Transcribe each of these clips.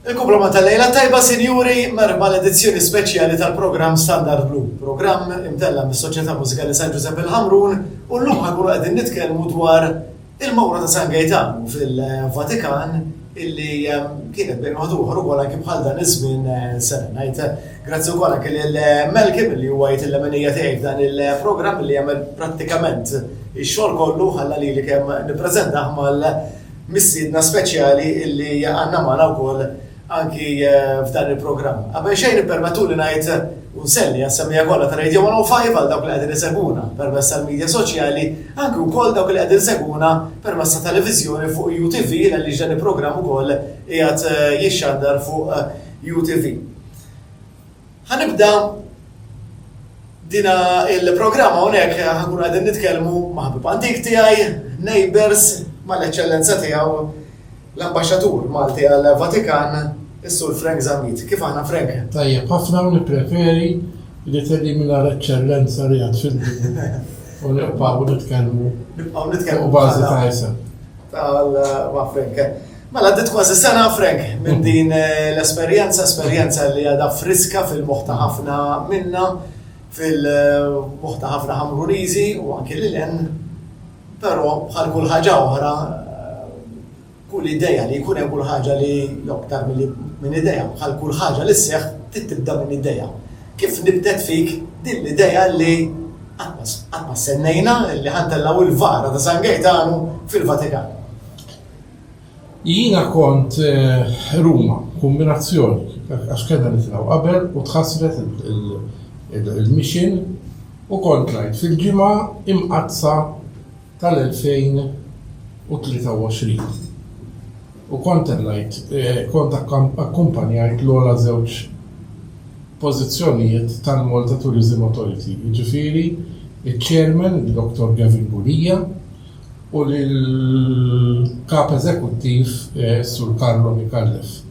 Il-kumplament ta' lejla tajba sinjuri, merħba għal edizzjoni speċjali tal-programm Standard Blu, programm imtella' mis-Soċjetà Mużikali San Ġużepp il-Ħamrun u llum ħa nkunu qegħdin nitkellmu dwar il-mawra ta' San Gejtanu fil-Vatikan illi kienet bejn wieħed u ieħor ukoll anki bħal dan iż-żmien sena. Ngħid grazzi wkoll anki lil Melkim li huwa jgħid il-lemenija tiegħi f'dan il-programm li jagħmel prattikament ix-xogħol kollu ħalla lili kemm nippreżentah mal Mistiedna speċjali illi għandna magħna wkoll anki f'dan il-programm. Qabel xejn ippermettuli ngħid u nselli għas-semmiegħa kollha ta' Radio 105 għal dawk li qegħdin isegwuna permezz tal-midja soċjali, anki wkoll dawk li qegħdin isegwuna permezz ta' televiżjoni fuq UTV għaliex dan il-programm ukoll qiegħed jixxandar fuq UTV. Ħa nibda dina il-programm hawnhekk ħankun qegħdin nitkellmu ma' ħabib antik tiegħi, neighbors, mal-eċċellenza tiegħu l-Ambaxxatur Malti għall-Vatikan, is-Sur Frank Zammit. Kif aħna Frank? Tajjeb, ħafna u nippreferi li tellimina l-eċċellenza li għad fil-dinja. U nibqgħu nitkellmu. Nibqgħu nitkellmu. U bażi ta' isem. Tal-ma' Frank. Mela għaddit kważi sena frek minn din eh, l-esperjenza, esperjenza li għadha friska fil-moħħ ta' ħafna minna, fil-moħħ ta' ħafna ħamruniżi u anke li len, però bħal kull ħaġa oħra, kull ideja li jkun hemm kull ħaġa li joktar minn ideja, bħal kull ħaġa li sseħħ tibda minn ideja. Kif nibdet fik din l-ideja li għatma sennejna li ħantellaw il-vara ta' San Gejtanu fil-Vatikan. Jiena kont Ruma, kombinazzjoni għax kellna nitilgħu qabel u tħassret il-mission u kont ngħid fil-Ġimgħa Imqaddsa tal-2023 u kont tellajt kont akkumpanjajt l-ogħla żewġ pożizzjonijiet tal-Malta Tourism Authority jiġifieri ċ-Chairman Dr. Gavin Bulia u lill-Kap Eżekuttiv Sur Carlo Micallef.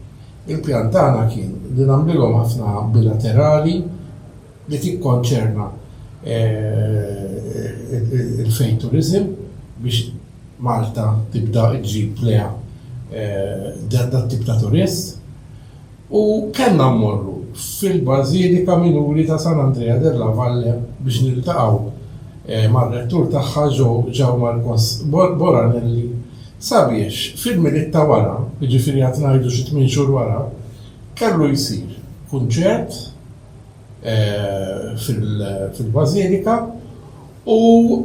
Il-pjan tagħna kien li nagħmlilhom ħafna bilaterali li tikkonċerna l-fejn turiżim biex Malta tibda ġġib lejha dat-tip ta' turist. U kellna mmorru fil-Bażilika Minuri ta' San Andrea della Valle biex niltaqgħu mar-Rettur tagħha João Marcos Boranelli sabiex fil-Milied ta' wara, jiġifieri għad ngħidu xi tmien xhur wara, kellu jsir kunċert, fil-Bażilika, u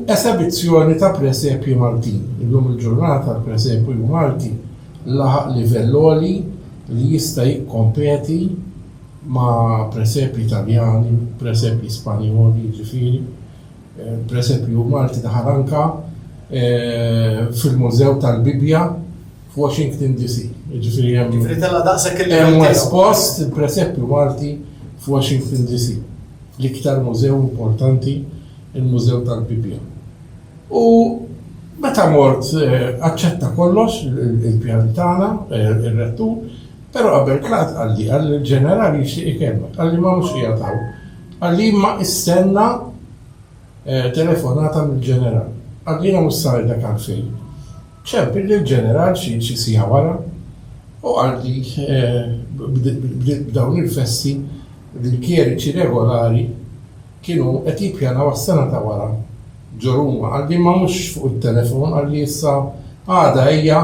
esebizzjoni ta' presepji Maltin. Illum il-ġurnata l-presepju Malti laħaq livell għoli li jista' jikkompeti ma' presepji Taljani, presepji Spanjoli jiġifieri. Presepju Malti daħal anke fil-Mużew tal-Bibbja. f'Washington DC. Jiġifieri hemm. Jiġifieri tella' daqshekk il-livell tiegħu. Hemm espost il-presepju Malti f'Washington DC, l-iktar mużew importanti, il-Mużew tal-Bibbja. U meta mort aċċetta kollox il-pjan tagħna, ir-rettur, però qabel tlaqt qalli qal il-ġeneral jixtieq ikellmek, qalli ma mhux qiegħed hawn. Qalli imma istenna telefonata mill-ġeneral. Qalli jiena mhux se ngħidlek għalfejn. Ċemp lil ġeneral xi siegħa wara u qal li b'dawn il-festi l-kjeriċi regolari kienu qed jippjanaw għas-sena ta' wara ġo Ruma. Qal li imma mhux fuq it-telefon, qal li issa għada ejja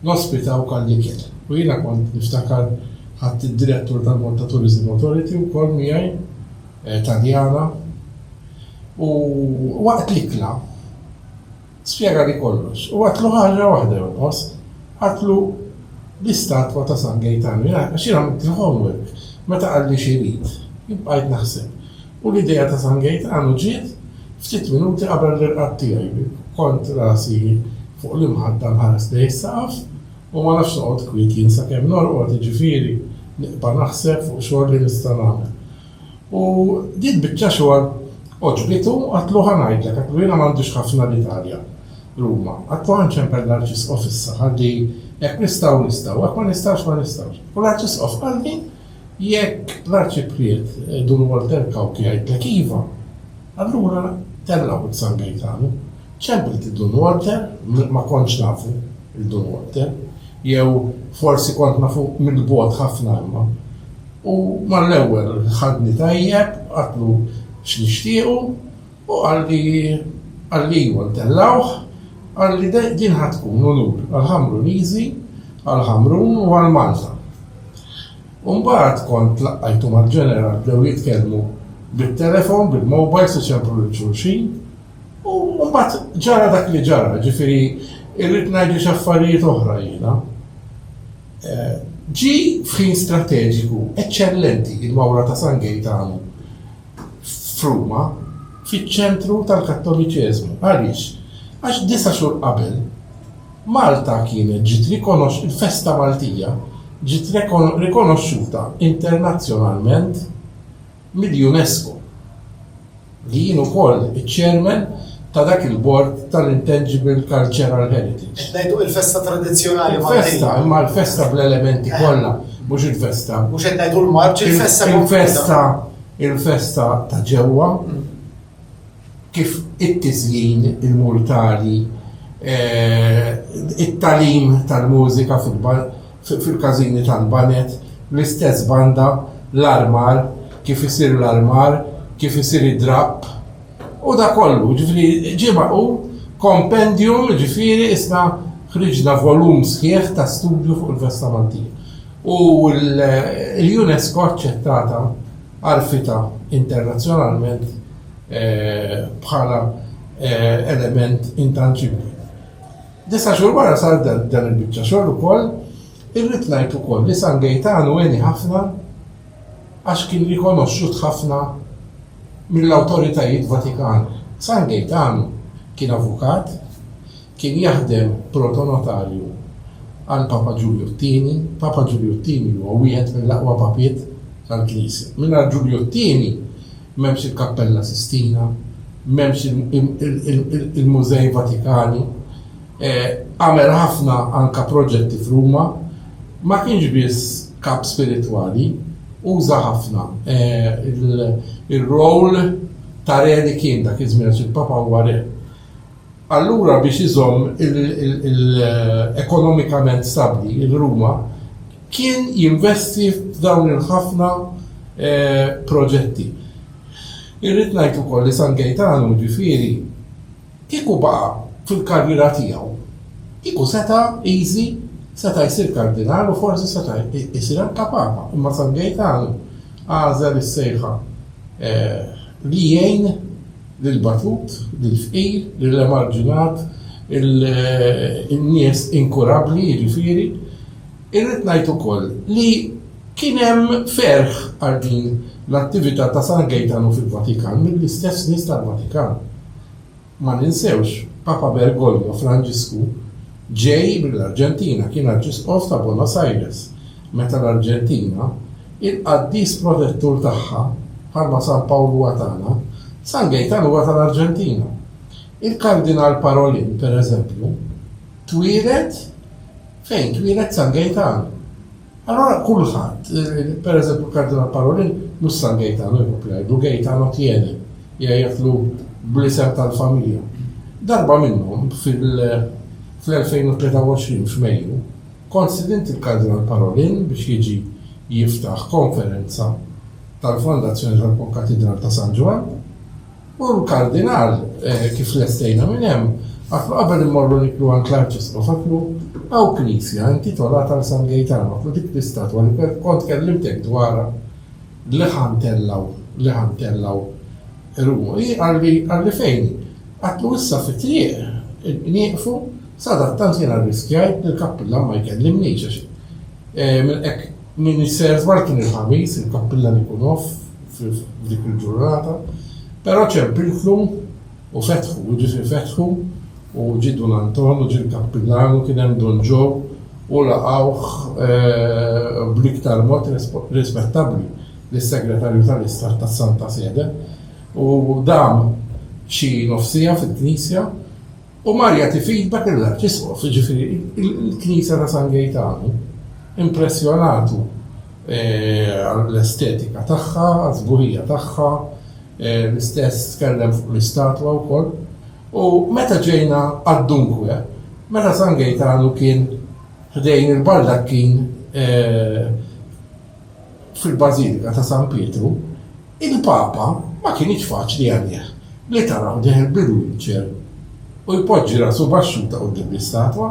nospitawk għall-ikel. U jiena kont niftakar ħadt id-direttur tal-Malta Tourism Authority wkoll miegħi, Taljana, u waqt l-ikla, Spjega li kollox. U qatlu ħaġa waħda jonqos. Qatlu l-istatwa ta' San Gejtanu. Jiena, għax jiena għamilt il-homework, meta qalli x'irid, jien bqajt naħseb. U l-idea ta' San Gejtanu ġiet ftit minuti qabel l-irqad tiegħi. Kont rasi fuq l-imħadda nħares lejn is-saqaf u ma nafx noqgħod kwiet jien sakemm norqod, jiġifieri, nibqa' naħseb fuq xogħol li nista' nagħmel. U din biċċa xogħol għoġbitu, għadtlu ħa ngħidlek, għadtlu jiena m'għandix ħafna l-Italja, Ruma, għadtlu ħa nċempel l-Arċisqof issa, ħalli hekk nistgħu nistgħu, hekk ma nistgħux ma nistgħux. U l-Arċisqof qalli jekk l-Arċipriet Dun Walter Cauchi jgħidlek iva, allura tellgħu it-San Gejtanu. Ċempel ti Dun Walter, ma kontx nafu l-Dun Walter, jew forsi kont nafu mill-bogħod ħafna imma. U mal-ewwel ħadni tajjeb, għatlu x'nixtiequ u qalli qalli iwa ntellgħuh, qalli din ħa tkun unur għall-Ħamruniżi, għall-Ħamrun u għal Malta. U mbagħad kont tlaqqajtu mal-Ġeneral bdew jitkellmu bit-telefon, bil-mowbajls iċemplu lil xulxin, U mbagħad ġara dak li ġara, ġifieri irrid ngħidli x'affarijiet oħra jiena. Eh, ġi f'ħin strateġiku eċċellenti il-Mawra ta' San Gejtanu f'Ruma fiċ-ċentru tal-Kattoliċeżmu. Għaliex? Għax disa' xhur qabel Malta kienet ġiet rikonox il-festa Maltija ġiet rikonoxxuta internazzjonalment mill-UNESCO, li jien ukoll iċ-Chairman ta' dak il-Bord tal-Intangible Cultural Heritage. Qed ngħidu il-festa tradizzjonali Maltin. Il-festa, imma l-festa bl-elementi kollha, mhux il-festa. Mhux qed ngħidu l-marċ, il-festa. Il-festa, il-festa ta' ġewwa. kif it-tiżjin, il-murtali, it-tagħlim tal-mużika fil-każini tal-baned, bl-istess banda, l-armar, kif isir l-armar, kif isir id-drapp, u dak kollu. Jiġifieri ġie magħqul kompendjum, jiġifieri issa ħriġna volum sħiħ ta' studju fuq il-festa Maltija. U l-UNESCO aċċettata. għarfitha internazzjonalment bħala element intanġibbli. Disa' xhur wara sar dan il-biċċa xogħol ukoll, irrid ngħid ukoll li San Gejtanu għeni ħafna għax kien rikonoxxut ħafna mill-awtoritajiet Vatikani. San Gejtanu kien avukat, Kien jaħdem protonotarju għal Papa Ġulju t-Tieni. Papa Ġulju t-Tieni huwa wieħed mill-aqwa papiet tal-Knisja. Mingħajr Ġulju t-Tieni m'hemmx il-Kappella Sistina, m'hemmx il-Mużej Vatikani. Għamel ħafna anke proġetti f'Ruma. Ma kienx biss kap spiritwali, uża ħafna r-role ta' re li kien dak iż-żmien għax il-Papa huwa re. Allura biex iżomm l-ekonomikament stabbli l-Ruma kien jinvesti f'dawn il-ħafna proġetti. Irrid ngħid ukoll li San Gejtanu ġifieri kieku baqa' fil-karriera tiegħu kieku seta' easy seta' jsir Kardinal u forsi seta' jsir anke Papa imma San Gejtanu għażel is-sejħa li jgħin lill-batut, lill-fqir, lill-emarġinat, in-nies inkurabbli, jiġifieri, irrid ngħid ukoll li kien hemm ferħ għal din l-attività ta' San Gejtanu fil-Vatikan mill-istess nies tal-Vatikan. Ma ninsewx, Papa Bergoglio, Franġisku, ġej mill-Arġentina, kien Arċisqof ta' Buenos Aires, meta l-Arġentina, il-qaddis protettur tagħha, bħalma San Pawl huwa tagħna, San Gejtan huwa tal-Arġentina. Il-Kardinal Parolin, pereżempju, twieled fejn twieled San Gejtan. Allura kulħadd, per eżempju l-Kardinal Parolin, mhux San Gejtano jekk nkompli ngħidlu, Gejtano Tieni, jgħidlu bl-isem tal-familja. Darba minnhom fl-2023 f'Mejju, kont stidint lill-Kardinal Parolin biex jiġi jiftaħ konferenza tal-Fondazzjoni tal-Konkatidral ta' San Ġwann, U l-Kardinal, kif lestejna minn hemm, għatlu qabel immorru niklu għand l-Arċisqof għatlu, Hawn knisja intitolata għal San Gejtan, għatlu dik l-istatwa li kont kellimtek dwarha li ħa ntellgħu, li ħa ntellgħu ruħu hi, qalli, qalli fejn hi? Għatlu issa fit-triq nieqfu, sadattant jiena rriskjajt li l-kappillan ma jkellimnix għax Minn hekk, min isejjaħ żball kien il-Ħamis, il-Kappillan ikun off f'dik il-ġurnata, però ċempiltlu u fetħu, jiġifieri fetħu u ġie Dun Anton u ġie l-Kappillan u kien hemm Dun Ġo u laqgħuh bl-iktar mod rispettabbli lis-Segretarju tal-Istat tas-Santa Sede u dam xi nofsiegħa fil-Knisja U mar jagħti feedback lill-Arċisqof, jiġifieri l-Knisja ta' San Gejtanu, impressjonatu għall-estetika tagħha, għas-sburija tagħha, l-istess tkellem fuq l-istatwa wkoll. U meta ġejna għad-dunque, meta San Gejtanu kien ħdejn il-baldakkin fil-Bażilika ta' San Pietru, Il-Papa ma kinitx faċli għalih li taraw deher bil-wheelchair u jpoġġi rasu baxxuta quddiem l-istatwa.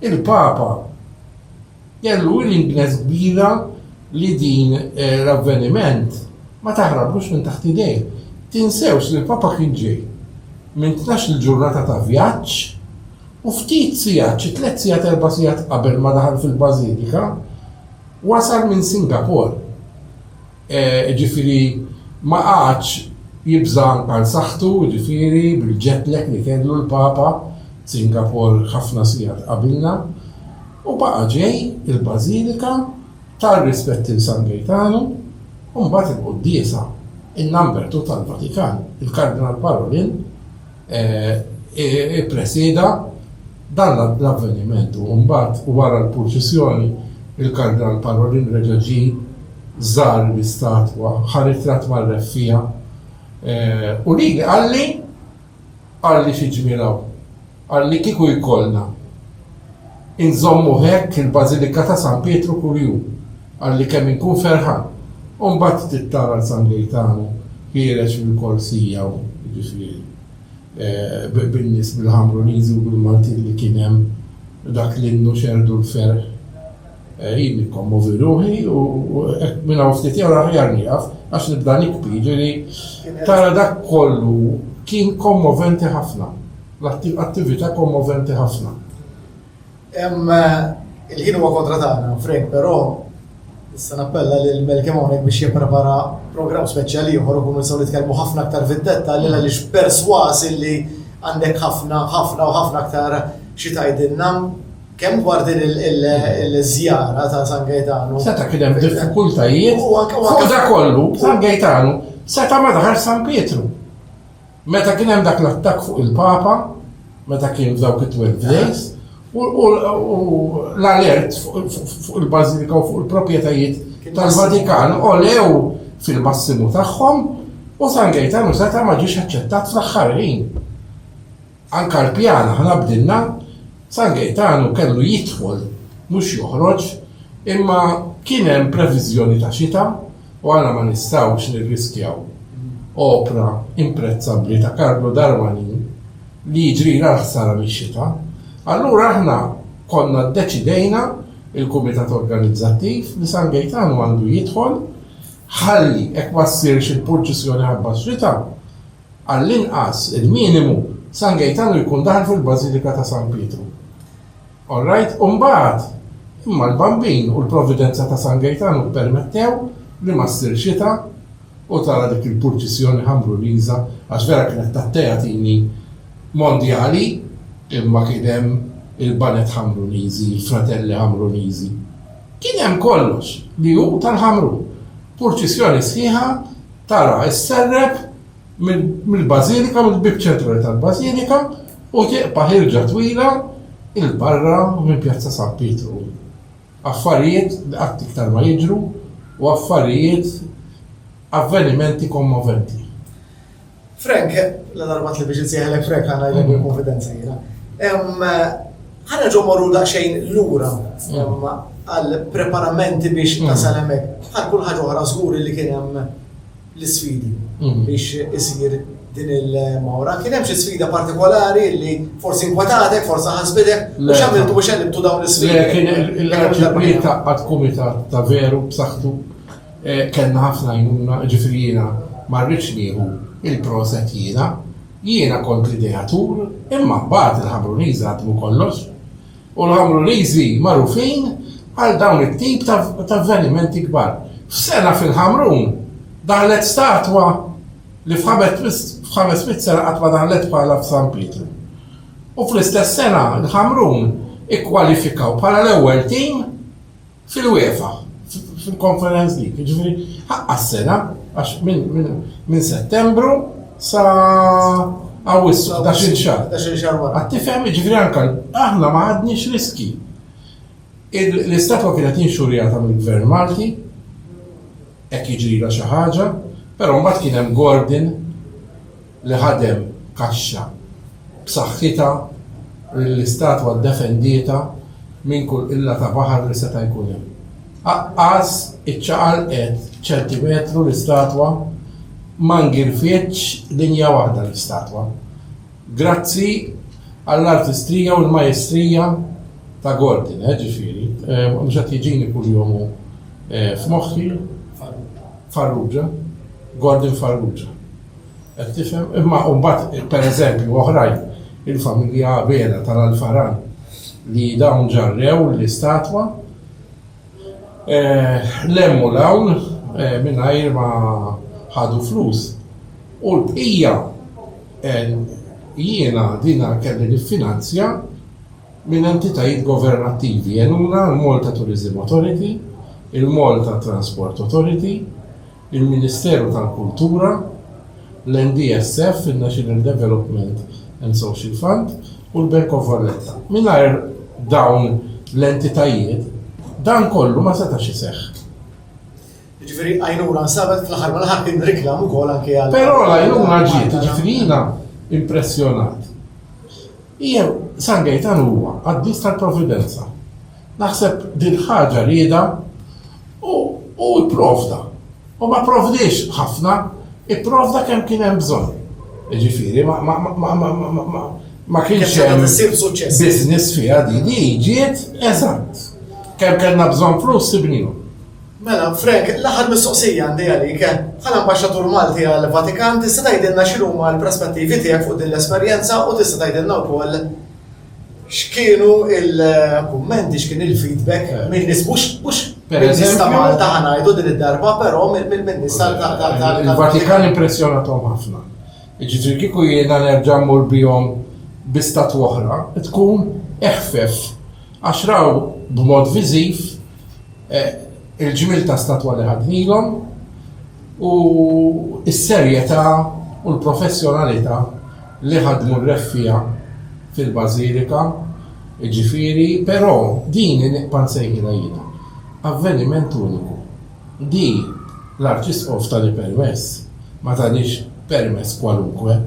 Il-Papa kellu willingness kbira li din l-avveniment ma taħrablux minn taħt idejh. Tinsewx li l-Papa kien ġej minn tnax-il ġurnata ta' vjaġġ u ftit sigħat, xi tliet sigħat erba' sigħat qabel ma daħal fil-Bażilika, wasal minn Singapore. jiġifieri ma qagħadx jibża' anka għal saħħtu, jiġifieri bil-jet lag li kellu l-Papa, Singapor ħafna sigħat qabilna, u baqa' ġej il-Bażilika ta rispetti l San Gejtanu u mbagħad il-quddiesa in Nambertu tal-Vatikan, il-Kardinal Parolin, ippresieda dan l-avveniment u mbagħad wara l-purċissjoni il-Kardinal Parolin reġa' ġie żar l-istatwa, ħa ritratt mar-Re fiha u lili qalli, Qalli xi ġmiel hawn, qalli kieku jkollna. Inżommu hekk il-Bażilika ta' San Pietru kull jum, qalli kemm inkun ferħan. U mbagħad ftit tara 'l San Gejtanu ħiereġ mill-korsija u jiġifieri bin-nies bil-Ħamruniżi u bil-Maltin li kien hemm dak l-innu xerrdu l-ferħ. Jien nikkommovi ruħi u hekk minn hawn ftit jew aħjar nieqaf għax nibda nikbi, jiġifieri tara dak kollu kien kommoventi ħafna. L-attività kommoventi ħafna. Hemm il-ħin huwa kontra tagħna, Frank, però nista' nappella lil Malcolm hawnhekk biex jipprepara programm speċjali ieħor u nkunu nistgħu nitkellmu ħafna aktar fid-dettalji għaliex persważ illi għandek ħafna, ħafna u ħafna aktar xi tgħidilna kemm dwar din il-żjara ta' San Gejtanu. Seta' kien hemm diffikultajiet u dak kollu San Gejtanu seta' ma daħal San Pietru. Meta kien hemm dak l-attakk fuq il-Papa, meta kien f'dawk it-twelve days, u l-alert fuq il-Bażilika u fuq il-proprjetajiet tal-Vatikan olew fil-massimu tagħhom u San Gejtanu seta' ma ġiex aċċettat fl-aħħar ħin. Anka l-pjan aħna bdilna San Gejtanu kellu jidħol mhux joħroġ imma kien hemm previżjoni ta' xita u aħna ma nistgħux nirriskjaw opra imprezzabbli ta' Carlo Darmanin li jiġrilha l-ħsara mix-xita. Allura aħna konna ddeċidejna, il-Kumitat Organizzattiv, li San Gejtanu għandu jidħol ħalli hekk ma ssirx il-purċissjoni ħabba x-xita, għall-inqas, il-minimu, San Gejtanu jkun daħal fil-Bażilika ta' San Pietru. All right, u mbagħad? Imma l-Bambin u l-Providenza ta' San Gejtanu ppermettew li ma ssir xita u tara dik il-purċissjoni ħamruriża, għax vera kienet ta' teatini mondjali, imma kien hemm il-baned ħamruniżi, il-fratelli ħamruniżi, kien hemm kollox li hu tal-Ħamrun. Purċissjoni sħiħa, tara s-serrep mill-Bażilika, mill-bieb ċentrali tal-Bażilika u tieqpa' ħirġa twila 'l barra minn Pjazza San Pietru. Affarijiet li qatt iktar ma jiġru u affarijiet, avvenimenti kommoventi. Frank, ladarba tlifx insejħilek Frank ħa ngħidlek bil-kunfidenza jiena. Ħa nerġgħu mmorru daqsxejn lura għall-preparamenti biex tasal hemmhekk. Bħal kull ħaġa oħra żgur li kien hemm l-isfidi biex isir din il-mawra. Kien hemm xi sfida partikolari li forsi inkwetatk, forsi ħasbitek, u x'għamiltu biex għelibtu dawn l-isfidi? Le, kien il-ġibriet ta' qatt kumitat ta' veru b'saħħtu. Eh, kellna ħafna jnuna, ġifri jiena ma rridx nieħu il-proset jiena. Jiena kont l-ideatur, imma mbagħad il-ħabruniża għadmu kollox. u l-Ħamruniżi magħrufin għal dawn it-tip ta' avvenimenti kbar. F'sena fil-Ħamrun daħlet statwa li f'ħames mitt sena qatt ma daħlet bħalha f'San Pietru. U fl-istess sena l-Ħamrun ikkwalifikaw bħala l-ewwel tim Fil-UEFA, fil-Conference League, ġifiri, ħaqqa s-sena, għax minn settembru sa għawissu, da xil xar. Da xil xar wara. Għattifem, ġifiri anka, aħna ma għadniex riski. L-istatwa kienet inxurjata mill-Gvern Malti, ek jiġri la xaħġa, pero mbagħad kien hemm Gordon li ħadem kaxxa b'saħħitha li l-istatwa ddefendietha minn kull qilla ta' baħar li seta' jkun hemm. Aqqas iċċaqalqet ċentimetru l-istatwa, ma ngirfietx linja waħda l-istatwa. Grazzi għall-artistrija u l-majestrija ta' Gordon, eh, ġifieri, mhux qed jiġini kuljum hu f'moħħi, Farrugia, Gordon Farrugia. Qed tifhem? Imma mbagħad, pereżempju, oħrajn, il-familja Abela tal-Alfaran, li dawn ġarrew l-istatwa, lemmu 'l hawn mingħajr ma ħadu flus. U l-bqija, jiena din kelli niffinanzja minn entitajiet governattivi, għenuna l-Malta Tourism Authority, il-Malta Transport Authority, il-Ministeru tal-Kultura, l-NDSF, in-National Development and Social Fund, u l-Bank of Valletta. Mingħajr dawn l-entitajiet, dan kollu ma setax iseħħ. Jiġifieri għajnuna nstabet fl-aħħar mill-aħħar kien riklam ukoll anke għal. Però l-għajnuna ġiet, jiġifieri jiena impressjonat. Jew San Gejtan huwa qaddis tal-Providenza. Naħseb din il-ħaġa riedha u hu pprovda. U ma pprovdiex ħafna, ipprovda kemm kien hemm bżonn. Jiġifieri ma kienx hemm business fiha din, hi ġiet eżatt kemm kellna bżonn flus sibnihom. Mela, Frank, l-aħħar mistoqsija għandi għalik, bħala Ambaxxatur Malti għall-Vatikan tista' tgħidilna x'inhuma l-prospettivi tiegħek fuq din l-esperjenza u tista' tgħidilna wkoll x'kienu l-kummenti, x'kien il-feedback minn nies mhux minn ta' Malta ħa ngħidu din id-darba, però minn nies tal-Vatikan impressjonathom ħafna. Ġifieri kieku jiena nerġa' mmur bihom bi statwa oħra, tkun eħfef Għax raw b'mod viżiv il-ġmiel ta' statwa li ħadnilhom u s-serjetà u l-professjonalità li ħadmu r-reffiegħa fil-Bażilika, jiġifieri, però din hi nibqa' nsejħilha jiena avveniment uniku. Di l-Arċisqof tani permess, ma tanix permess kwalunkwe.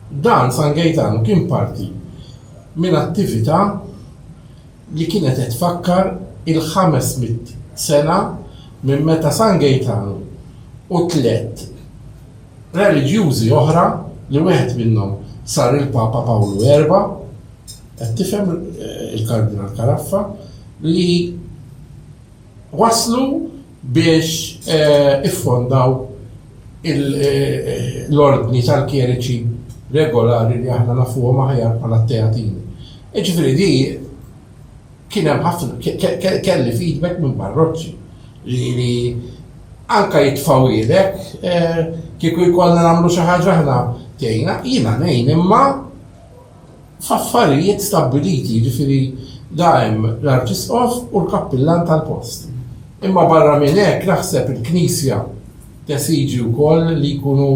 Dan San Gejtanu kien parti minn attività li kienet qed tfakkar il-ħames mitt sena minn meta San Gejtanu u tliet reliġjużi oħra li wieħed minnhom sar il-Papa Pawlu Erba', qed tifhem il-Kardinal Caraffa, li, waslu biex iffondaw l-ordni tal-kjeriċi regolari li aħna nafuhom aħjar bħala t-Teatini. Jiġifieri di kien hemm ħafna kelli feedback minn parroċċi li anke jitfgħuhielek kieku jkollna nagħmlu xi ħaġa aħna tgħinna, jiena ngħin imma, f'affarijiet stabbiliti, jiġifieri la hemm l-Arċisqof u l-Kappillan tal-post. Imma barra minn hekk naħseb il-Knisja tesiġi wkoll li jkunu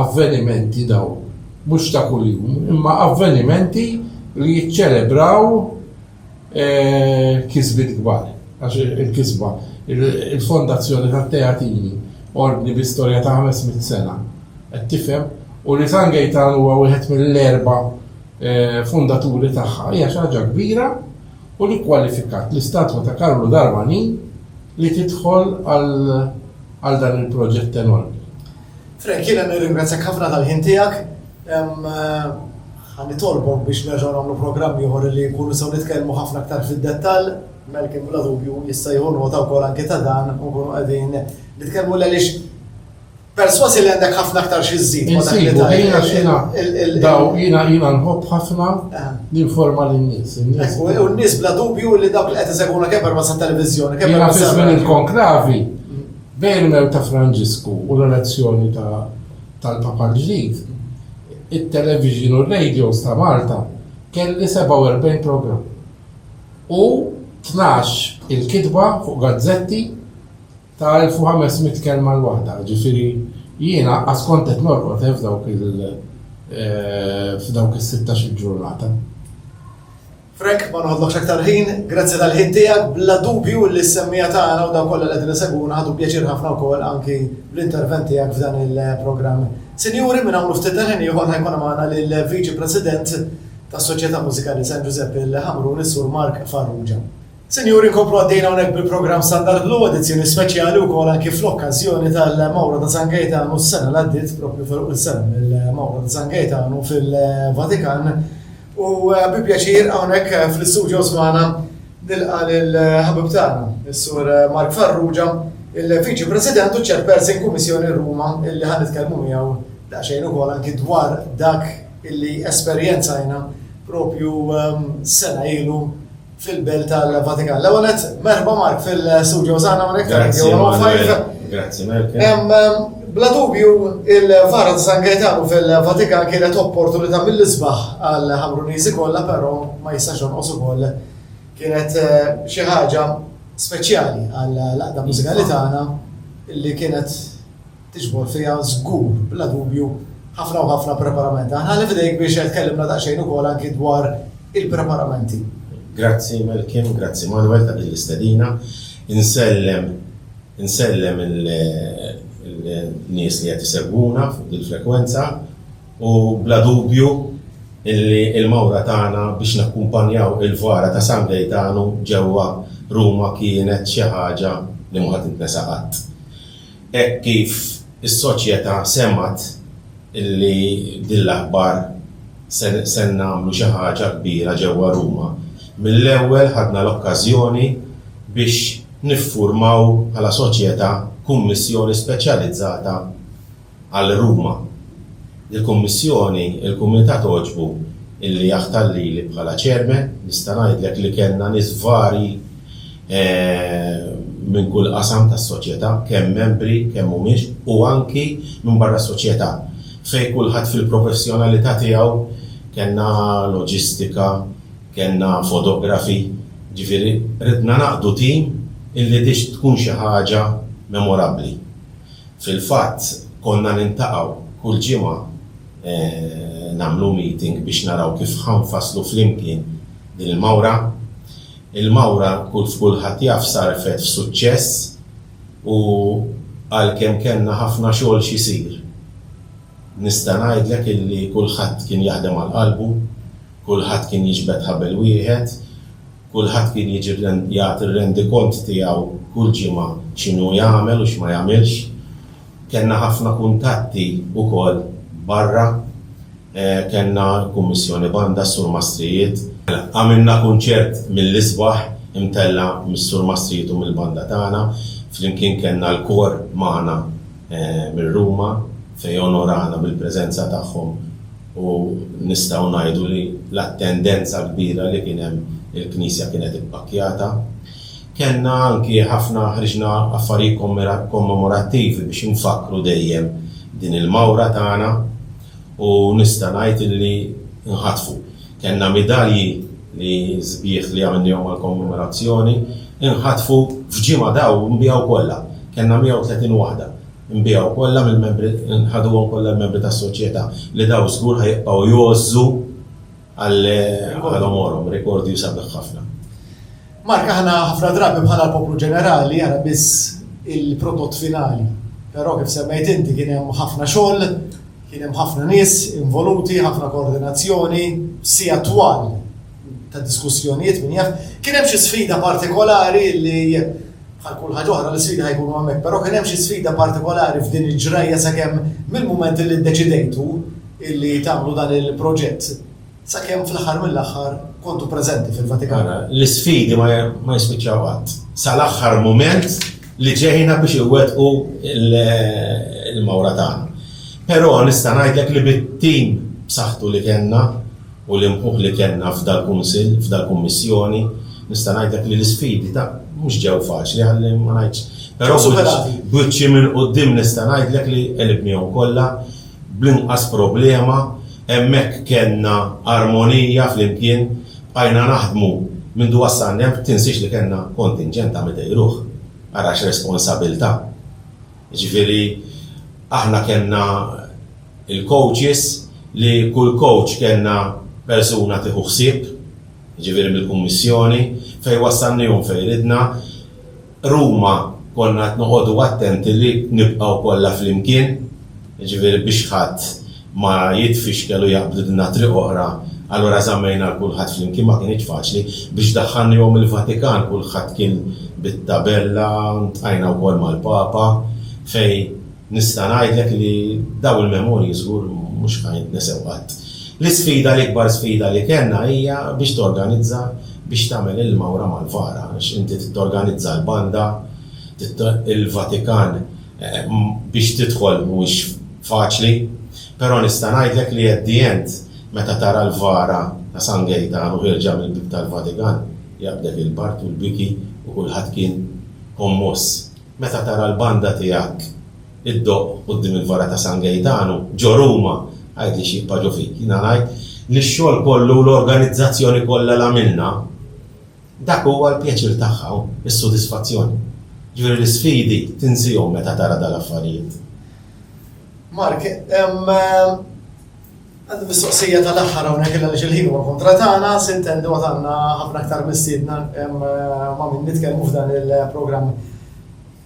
avvenimenti dawn mhux ta' kuljum imma avvenimenti li jiċċelebraw kisbiet kbar, għax il-kisba, il-fondazzjoni tat-Teatini, ordni bi storja ta' ħames mitt sena, qed tifhem, u li San Gejtan huwa wieħed mill-erba' fundaturi tagħha hija xi ħaġa kbira u li kkwalifikat l-istatwa ta' Karlu Darmanin li tidħol għal dan il-proġett enormi. Frank, jiena nirringrazzjak ħafna tal-ħin tiegħek. Ħa nitolbok biex nerġgħu nagħmlu programm ieħor li nkunu nistgħu nitkellmu ħafna aktar fid-dettall. Malcolm bla dubju jista' jieħu nota wkoll anki ta' dan u nkunu qegħdin nitkellmu għaliex persważi li għandek ħafna aktar xi żżid ma' dak li Insibu, jiena tajt. xina, Il- il- daw, jiena jiena nħobb ħafna Aha. ninforma lin-nies. in-nies- U u n-nies bla dubju li dawk li qed isegwuna kemm permezz tat-televiżjoni, kemm Jiena permezz fi żmien tar-radju. il-konklavi bejn il-mew ta' Franġisku u l-elezzjoni ta' tal-Papa l-ġdid, it-televixin u r-radiows ta' Malta kelli 47 programm u tnax il-kitba fuq gazzetti ta' 1,500 kelma l-waħda, jiġifieri jien anqas kont qed norqod f'dawk il-sittax-il ġurnata. Frank, ma noħodlokx aktar ħin, grazzi tal-ħin tiegħek, bla dubju li s-semmiegħa tagħna u dawk kollha li qegħdin isegwuna ħadu pjaċir ħafna wkoll anki bl-intervent tiegħek f'dan il-programm. Sinjuri, minn hawn u ftit tal-ħin ieħor ħa jkun magħna lill-Viċi President tas-Soċjetà Mużikali San Ġużeppi l-Ħamrun, is-Sur Mark Farrugia. Sinjuri nkomplu għaddejjin hawnhekk bil-programm Standard Blu, edizzjoni speċjali wkoll anki fl-okkażjoni tal-Mawra ta' San Gejtanu s-sena li għaddiet propju ferqu l-sena mill-Mawra ta' San Gejtanu fil-Vatikan. U bi pjaċir hawnhekk fl-istudios magħna nilqa' lill-ħabib tagħna, is-Sur Mark Farrugia, il-Viċi President u Chairperson Kummissjoni Ruma illi ħa nitkellmu miegħu daqsxejn ukoll anki dwar dak illi esperjenzajna propju sena ilu, fil-belt tal-Vatikan. L-ewwel qed merħba Mark fil-studio żgħana hawnhekk tal-Grazzi. Grazzi Mark. Bla dubju, il-vara ta' San Gaetano fil-Vatikan kienet opportunità mill-isbaħ għal ħamruniżi kollha, però ma jistax jonqos ukoll kienet eh, xi ħaġa speċjali għal laqda mużikali tagħna li kienet tiġbor fiha żgur, bla dubju, ħafna u ħafna preparamenti. Aħna ħalli f'idejk biex tkellimna daqsxejn ukoll anki dwar il-preparamenti. Grazzi Malkin, grazzi Manwel ta' din l-istedina. Insellem, insellem il-nies li qed isegwuna fuq din il-frekwenza u bla dubju illi l-mawra tagħna biex nakkumpanjaw il-vara ta' San Gejtanu ġewwa Ruma kienet xi ħaġa li mhu ħa tintnesa qatt. Hekk kif is-soċjetà semgħet li b'din l-aħbar se se nagħmlu xi ħaġa kbira ġewwa Ruma, mill-ewwel ħadna l-okkażjoni biex niffurmaw bħala soċjetà kummissjoni speċjalizzata għal Ruma. Il-Kummissjoni, il-Kumitat għoġbu illi jaħtar lili bħala Chairman. Nista' ngħidlek li kellna nies varji minn kull qasam tas-soċjetà, kemm membri, kemm mhumiex, u anki minn barra s-soċjetà, fejn kulħadd fil-professjonalità tiegħu, kellna loġistika, kellna fotografi, jiġifieri ridna naqdu tim illi tix tkun xi ħaġa memorabbli. Fil-fatt konna niltaqgħu kull ġimgħa nagħmlu meeting biex naraw kif ħa nfasslu flimkien din il-mawra. Il-mawra kif kulħadd jaf sarfet f'suċċess u għalkemm kellna ħafna xogħol x'isir nista' ngħidlek illi kulħadd kien jaħdem għal qalbu, kulħadd kien jiġbed ħabel wieħed Kulħadd kien jiġi jagħti r-rendikont tiegħu kull ġimgħa x'inhu jagħmel u x'ma jagħmilx. Kellna ħafna kuntatti wkoll barra. Kellna l-Kummissjoni Banda, s-Sur Mastrijiet. Għamilna kunċert mill-isbaħ imtella' mis-Sur Mastrijiet u mill-Banda tagħna. Flimkien kellna l-kor magħna minn Ruma fejn onorana bil-preżenza tagħhom u nistgħu ngħidu li l-attendenza kbira li kien hemm il-knisja kienet ippakkjata. Kellna anki ħafna ħriġna affarijiet kommemorattivi biex infakkru dejjem din il-mawra tagħna u nista' ngħid illi nħatfu. Kellna midalji li sbieħ li għamilnihom għall-kommemorazzjoni nħatfu f'ġimgħa daw nbiegħu kollha. Kellna 130 waħda. Nbiegħu kollha mill-membri nħaduhom kollha l-membri tas-soċjetà li daw żgur ħa jibqgħu jgħożżu għal għomorhom. Rekordju sabiħ ħafna. Mark, aħna ħafna drabi bħala l-poplu ġenerali jara biss il-prodott finali. Però kif semmejt inti kien hemm ħafna xogħol, kien hemm ħafna nies involuti, ħafna koordinazzjoni, sija twal ta' diskussjonijiet minn jaf. Kien hemm xi sfida partikolari li bħal kull ħaġa oħra l-sfida ħajkunu hemmhekk, però kien hemm xi sfida partikolari f'din il-ġrajja sakemm mill-mument li ddeċidejtu illi tagħmlu dan il-proġett. Sakemm fl-aħħar mill-aħħar kontu preżenti fil-Vatikan. L-isfidi ma jispiċċaw qatt. Sal-aħħar mument li ġejna biex iwettqu l-mawra tagħna. Però nista' ngħidlek li bit-tim b'saħħtu li kellna u l-imħuħ li kellna f'dal-Kunsill, f'dal-Kummissjoni, nista' ngħidlek li l-isfidi ta' mhux ġew faċli ħalli ma ngħidx. Però b'wiċċi minn quddiem nista' ngħidlek li qelibnihom kollha. bl-inqas problema, hemmhekk kellna armonija flimkien, bqajna naħdmu mindu wassalni hemm, tinsiex li kellna kontinġent ta' mitej ruħ, ara x'responsabilità. Jiġifieri aħna kellna l-coaches li kull coach kellna persuna tieħu ħsieb, jiġifieri mill-Kummissjoni, fejn wassalnihom fejn ridna, Ruma konna qed noqogħdu attenti li nibqgħu kollha flimkien, jiġifieri biex ħadd ma jitfixkel u jaqbdilna triq oħra, allura żammejna 'l kulħadd flimkien, ma kinitx faċli. Biex daħħalniehom il-Vatikan kulħadd kien bit-tabella, ltqajna wkoll mal-Papa fejn Nista' ngħidlek li dawn il-memorji żgur mhux ħa jintnesew qatt. L-isfida, l-ikbar sfida li kellna hija biex torganizza biex tagħmel il-mawra mal-vara għax inti trid torganizza l-banda, il-Vatikan biex tidħol mhuwiex faċli, però nista' ngħidlek li at the end meta tara l-vara ta' San Gejtanu ħierġa mill-bieb tal-Vatikan jaqbdek il-bard u l-biki u kulħadd kien kommoss. Meta tara l-banda tiegħek iddoqq quddiem il-vara ta' San Gejtanu, ġo Ruma, għidli x'jibqa' ġo fik. Jiena ngħid li x-xogħol kollu u l-organizzazzjoni kollha li għamilna, dak huwa l-pjaċir tagħha, is-sodisfazzjon. Jiġifieri l-isfidi tinsiehom meta tara dal-affarijiet. Mark, Għandi mistoqsija tal-aħħar hawnhekk illa għaliex il-ħin huwa kontra tagħna, se ntendu għad għandna ħafna aktar mistiedna ma' min nitkellmu f'dan il-programm.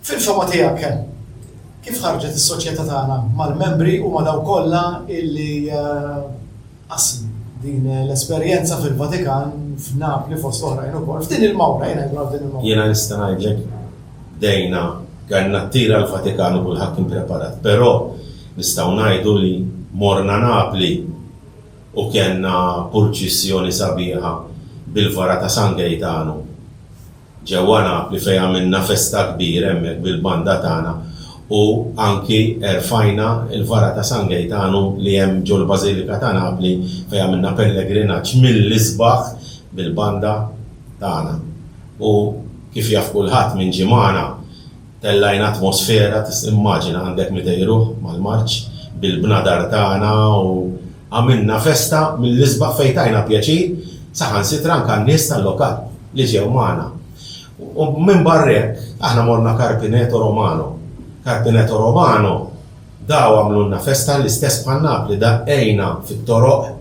Fil-fehma tiegħek, kif ħarġet is-soċjetà tagħna mal-membri u ma' dawk kollha illi qasmu din l-esperjenza fil-Vatikan, f'Napli fost oħrajn ukoll, f'din il-mawra, jien ngħidlu għal din il-mawra? Jiena nista' ngħidlek bdejna, kellna t-tir għall-Vatikan u kulħadd kien preparat, però, Nistgħu ngħidu li morna Napli u kellna purċissjoni sabiħa bil-vara ta' San Gejtanu ġewwa Napli fejn għamilna festa kbira hemmhekk bil-banda tagħna u anki erfajna l-vara ta' San Gejtanu li hemm ġol-Bażilika ta' Napli fejn għamilna pellegrinaġġ mill-isbaħ bil-banda tagħna u kif jaf kulħadd min ġie magħna Tellajna atmosfera, tista' immaġina għandek 200 ruħ mal-marċ, bil-bnadar tagħna u għamilna festa mill-isbaħ fejn tajna pjaċir saħansitra anke għan-nies tal-lokal li ġew magħna. U minbarra hekk, aħna morna Carpineto Romano. Carpineto Romano Daw għamlulna festa l-istess bħal Napli daqqejna fit-toroq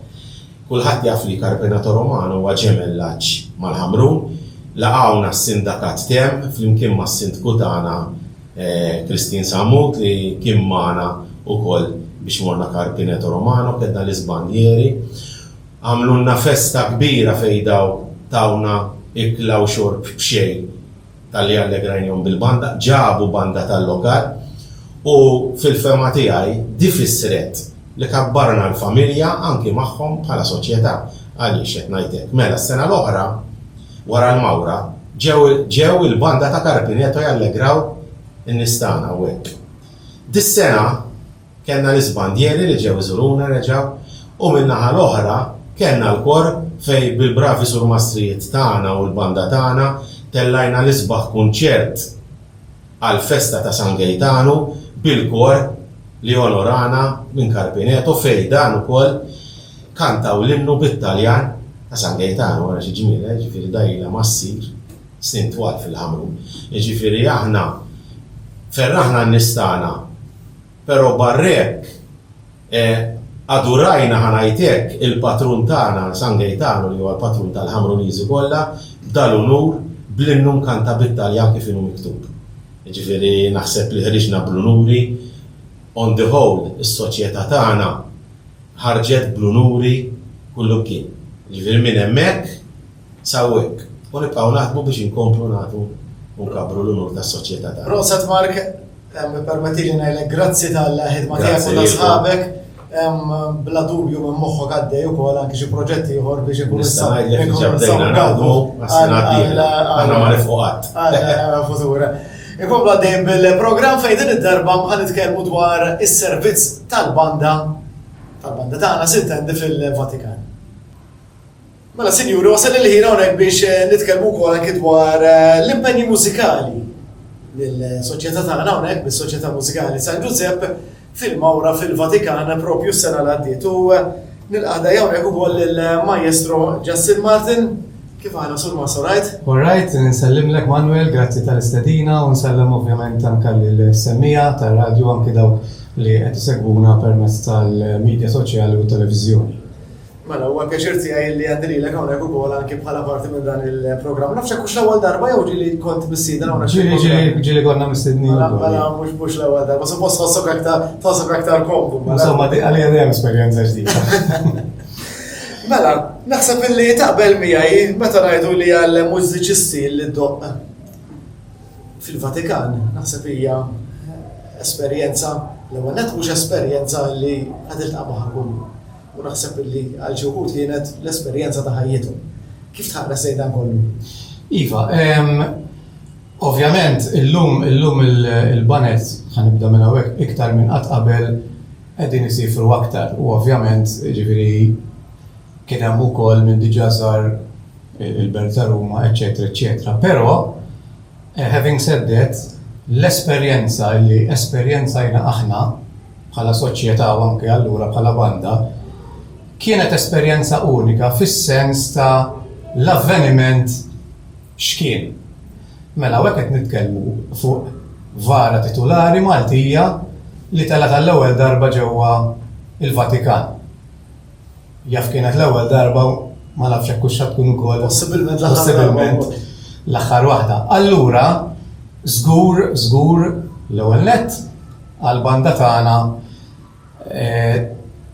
kulħadd jaf li Carpenato Romano huwa ġemellaġġ mal-Ħamrun laqgħuna s-sindakat temm flimkien mas-sindku tagħna Christine Sammut li kien magħna ukoll biex morna Carpeneto Romano kellna l-iżbanjieri għamlulna festa kbira fejn daw tawna ikla u xorb b'xejn. talli allegrajnihom bil-banda, ġabu banda tal-lokal u fil-fehma tiegħi di fissret li kabbarna l-familja anki magħhom bħala soċjetà. Għaliex qed ngħid hekk? Mela s-sena l-oħra wara l-mawra ġew ġew il-banda ta' Carpineto jallegraw in-nies tagħna hawnhekk. Dis-sena Kellna l-isbandieri li ġew iżuruna reġa' u min-naħa l-oħra kellna l-kor fejn bil-bravi surmastrijiet tagħna u l-banda tagħna tellajna l-isbaħ kunċert għall-festa ta' San Gejtanu bil-kor li onorana minn Carpineto fejn dan ukoll kantaw l-innu bit-Taljan ta' San Gejtanu. Ara xi ġmiel, eh? Ġifieri dgħajjilha ma ssir. snin twal fil-ħamru. Jiġifieri aħna ferraħna n-nies tagħna, però barra hekk adurajna, ħa ngħid hekk, il-patrun tagħna, San Gejtanu li huwa l-patrun tal-Ħamruniżi kollha, b'dal-unur, bl-innu Mkanta bit-Taljan kif inhu miktub. Jiġifieri naħseb li ħriġna bl-unuri, on the whole, is-soċjetà tagħna ħarġet bl-unuri kullimkien. Jiġifieri minn hemmhekk, S'hawnhekk, u nibqgħu naħdmu biex inkomplu nagħtu u nkabbru l-unur tas-soċjetà tagħna. Proset Mark, ippermettili ngħidlek grazzi tal-ħidma tiegħek u ta' sħabek. Bla dubju minn moħħok għaddej ukoll anki xi proġetti ieħor biex ikun Nista' ngħidlek diġà bdejna naħdmu għas-sena d-dieħla. Aħna ma nifqu qatt. Għal futura. Inkomplu għaddejjin bil-programm fejn din id-darba ħa nitkellmu dwar is-servizz tal-banda tal-banda tagħna sintendi fil-Vatikan. Mela sinjuri, wasal il-ħin hawnhekk biex eh, nitkellmu wkoll anki dwar eh, l-impenji mużikali mill-soċjetà tagħna hawnhekk bis-Soċjetà Mużikali San Ġużepp fil-Mawra fil-Vatikan propju s-sena l-għaddiet. U eh, nil-qada jawnek u koll il-Majestro Justin Martin, kif għana sur ma sorajt? Alright, nsellim lek Manuel, grazzi tal-istedina, u nsellem ovvjament anka l-semmija tal-radio anki dawk li għed segwuna permess tal-medja soċjali u televizjoni. Mela, huwa pjaċir tiegħi li għandi lilek hawnhekk ukoll anki bħala parti minn dan il-programm. Nafx hekk l-ewwel darba jew ġieli kont missieden hawnhekk. Ġieli ġieli ġieli konna missiedni. Mela, mela mhux mhux l-ewwel darba, suppost tħossok aktar tħossok aktar komdu. Mela. Insomma, di għalija dejjem esperjenza ġdida. Mela, naħseb illi taqbel miegħi meta ngħidu li għal mużiċisti li doq fil-Vatikan, naħseb hija esperjenza l-ewwel mhux esperjenza li ħadilta magħha kullu U naħseb li għal xi wħud kienet l-esperjenza ta' ħajjithom. Kif tħares lejn dan kollu? Iva, ovvjament illum illum il-baned, ħa nibda minn hawnhekk, iktar minn qatt qabel qegħdin isiefru aktar u ovvjament jiġifieri kien hemm ukoll min diġà żar il-Belt ta' Ruma, eċċetera, eċċetera. Però, Having said that, l-esperjenza li esperjenzajna aħna bħala soċjetà u anke allura bħala banda kienet esperjenza unika fis-sens ta' l-avveniment x'kien. Mela hawnhekk qed nitkellmu fuq vara titulari Maltija li telgħet għall-ewwel darba ġewwa l-Vatikan. Jaf kienet l-ewwel darba u ma nafx jekk hux se tkun ukoll. Possibilment l-aħħar waħda. Possibilment l-aħħar waħda. Allura, żgur, żgur, l-ewwel nett, għall-banda tagħna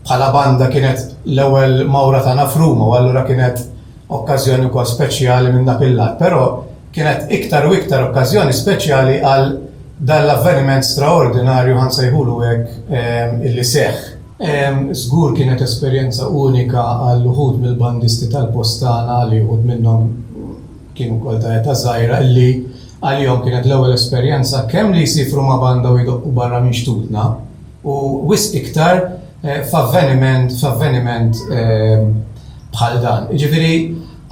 bħala banda kienet l-ewwel mawra tagħna f'Ruma u allura kienet okkażjoni wkoll speċjali minn dak il-lat. Però kienet iktar u iktar okkażjoni speċjali għal dan l-avveniment straordinarju, ħa nsejħulu hekk, illi seħħ. Żgur kienet esperjenza unika għal uħud mill-bandisti tal-post tagħna li uħud minnhom kienu wkoll ta' età żgħira illi għalihom kienet l-ewwel esperjenza kemm li jsifru ma' banda u jdoqqu barra minn xtutna u wisq iktar f'avveniment f'avveniment bħal dan. Jiġifieri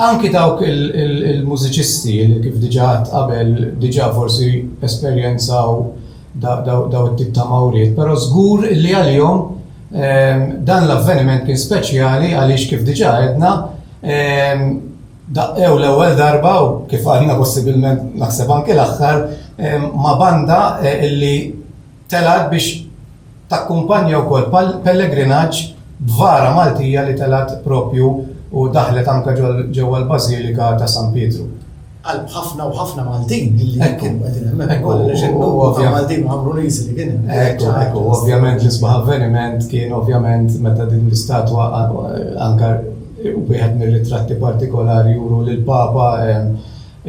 anki dawk il-mużiċisti li kif diġà għedt qabel diġà forsi esperjenzaw dawn it-tip ta' mawriet, però żgur li għalihom dan l-avveniment kien speċjali għaliex kif diġà għedna daqqew l-ewwel darba u kif għadna possibilment naħseb anke l-aħħar ma' banda li telgħet biex Takkumpanja wkoll pellegrinaġġ b'vara Maltija li telgħet proprju u daħlet anke ġewwa l-Bażilika ta' San Pietru. Qalb ħafna u ħafna Maltin li kienu qegħdin hemmhekk ukoll għaliex in-numru ta' Maltin u Ħamruniżi li kien hemm. Ekku, ekku, ovvjament l-isbaħ avveniment kien ovvjament meta din l-istatwa anke wieħed mir-ritratti partikolari juru lill-Papa,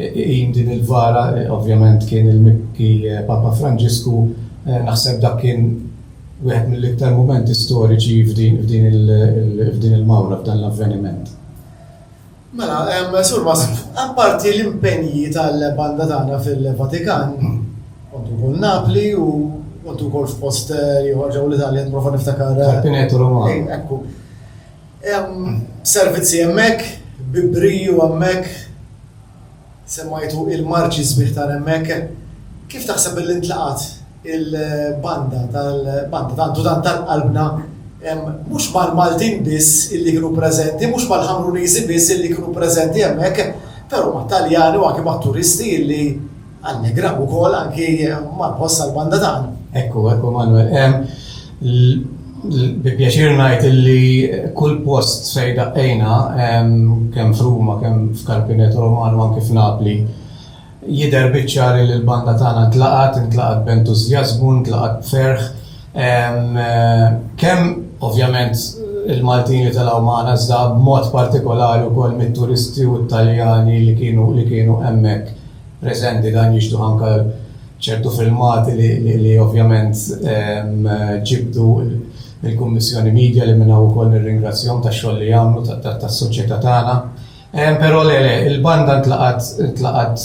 Iqim din il-vara ovvjament kien il-Mibki Papa Franġisku, naħseb dak kien wieħed mill-iktar mumenti storiċi f'din il-mawra, f'dan l-avveniment. Mela, Sur Massimo, apparti l-impenji tal-banda tagħna fil-Vatikan, kontu wkoll Napli u kontu wkoll f'post ieħor ġewwa l-Italja, nipprova niftakar. Pineto Romano. Ekku. Hemm servizzi hemmhekk, bi briju hemmhekk, semmajtu il-marċi sbieħ ta' hemmhekk. Kif taħseb illi ntlaqgħet il-banda tal, banda tant u tant tal-qalbna, mhux mal-Maltin biss illi kienu preżenti, mhux mal-Ħamruniżi biss illi kienu preżenti hemmhekk, però mat-Taljani u anki mat-turisti illi Għandni grab ukoll anki ma' boss għall-banda tagħna. Ekku, ekku Manuel. Bi pjaċir ngħid illi kull post fejn daqqejna, kemm f'Ruma, kemm f'Carpineto Romano, anki f'Napli, jidher biċ-ċar illi l-banda tagħna ntlaqgħet, intlaqgħet b'entużjażmu, intlaqgħet b'ferħ. Kemm ovvjament il-Maltin li telgħu magħna, iżda b'mod partikolari wkoll mit-turisti u t-Taljani li kienu hemmhekk. preżenti dan jixtuh anke ċertu filmati li ovvjament ġibdu mill-Kummissjoni Media li minn hawn ukoll nirringrazzjahom tax-xogħol li jagħmlu tas-soċjetà tagħna. Però le le, il-banda ntlaqgħet ntlaqgħet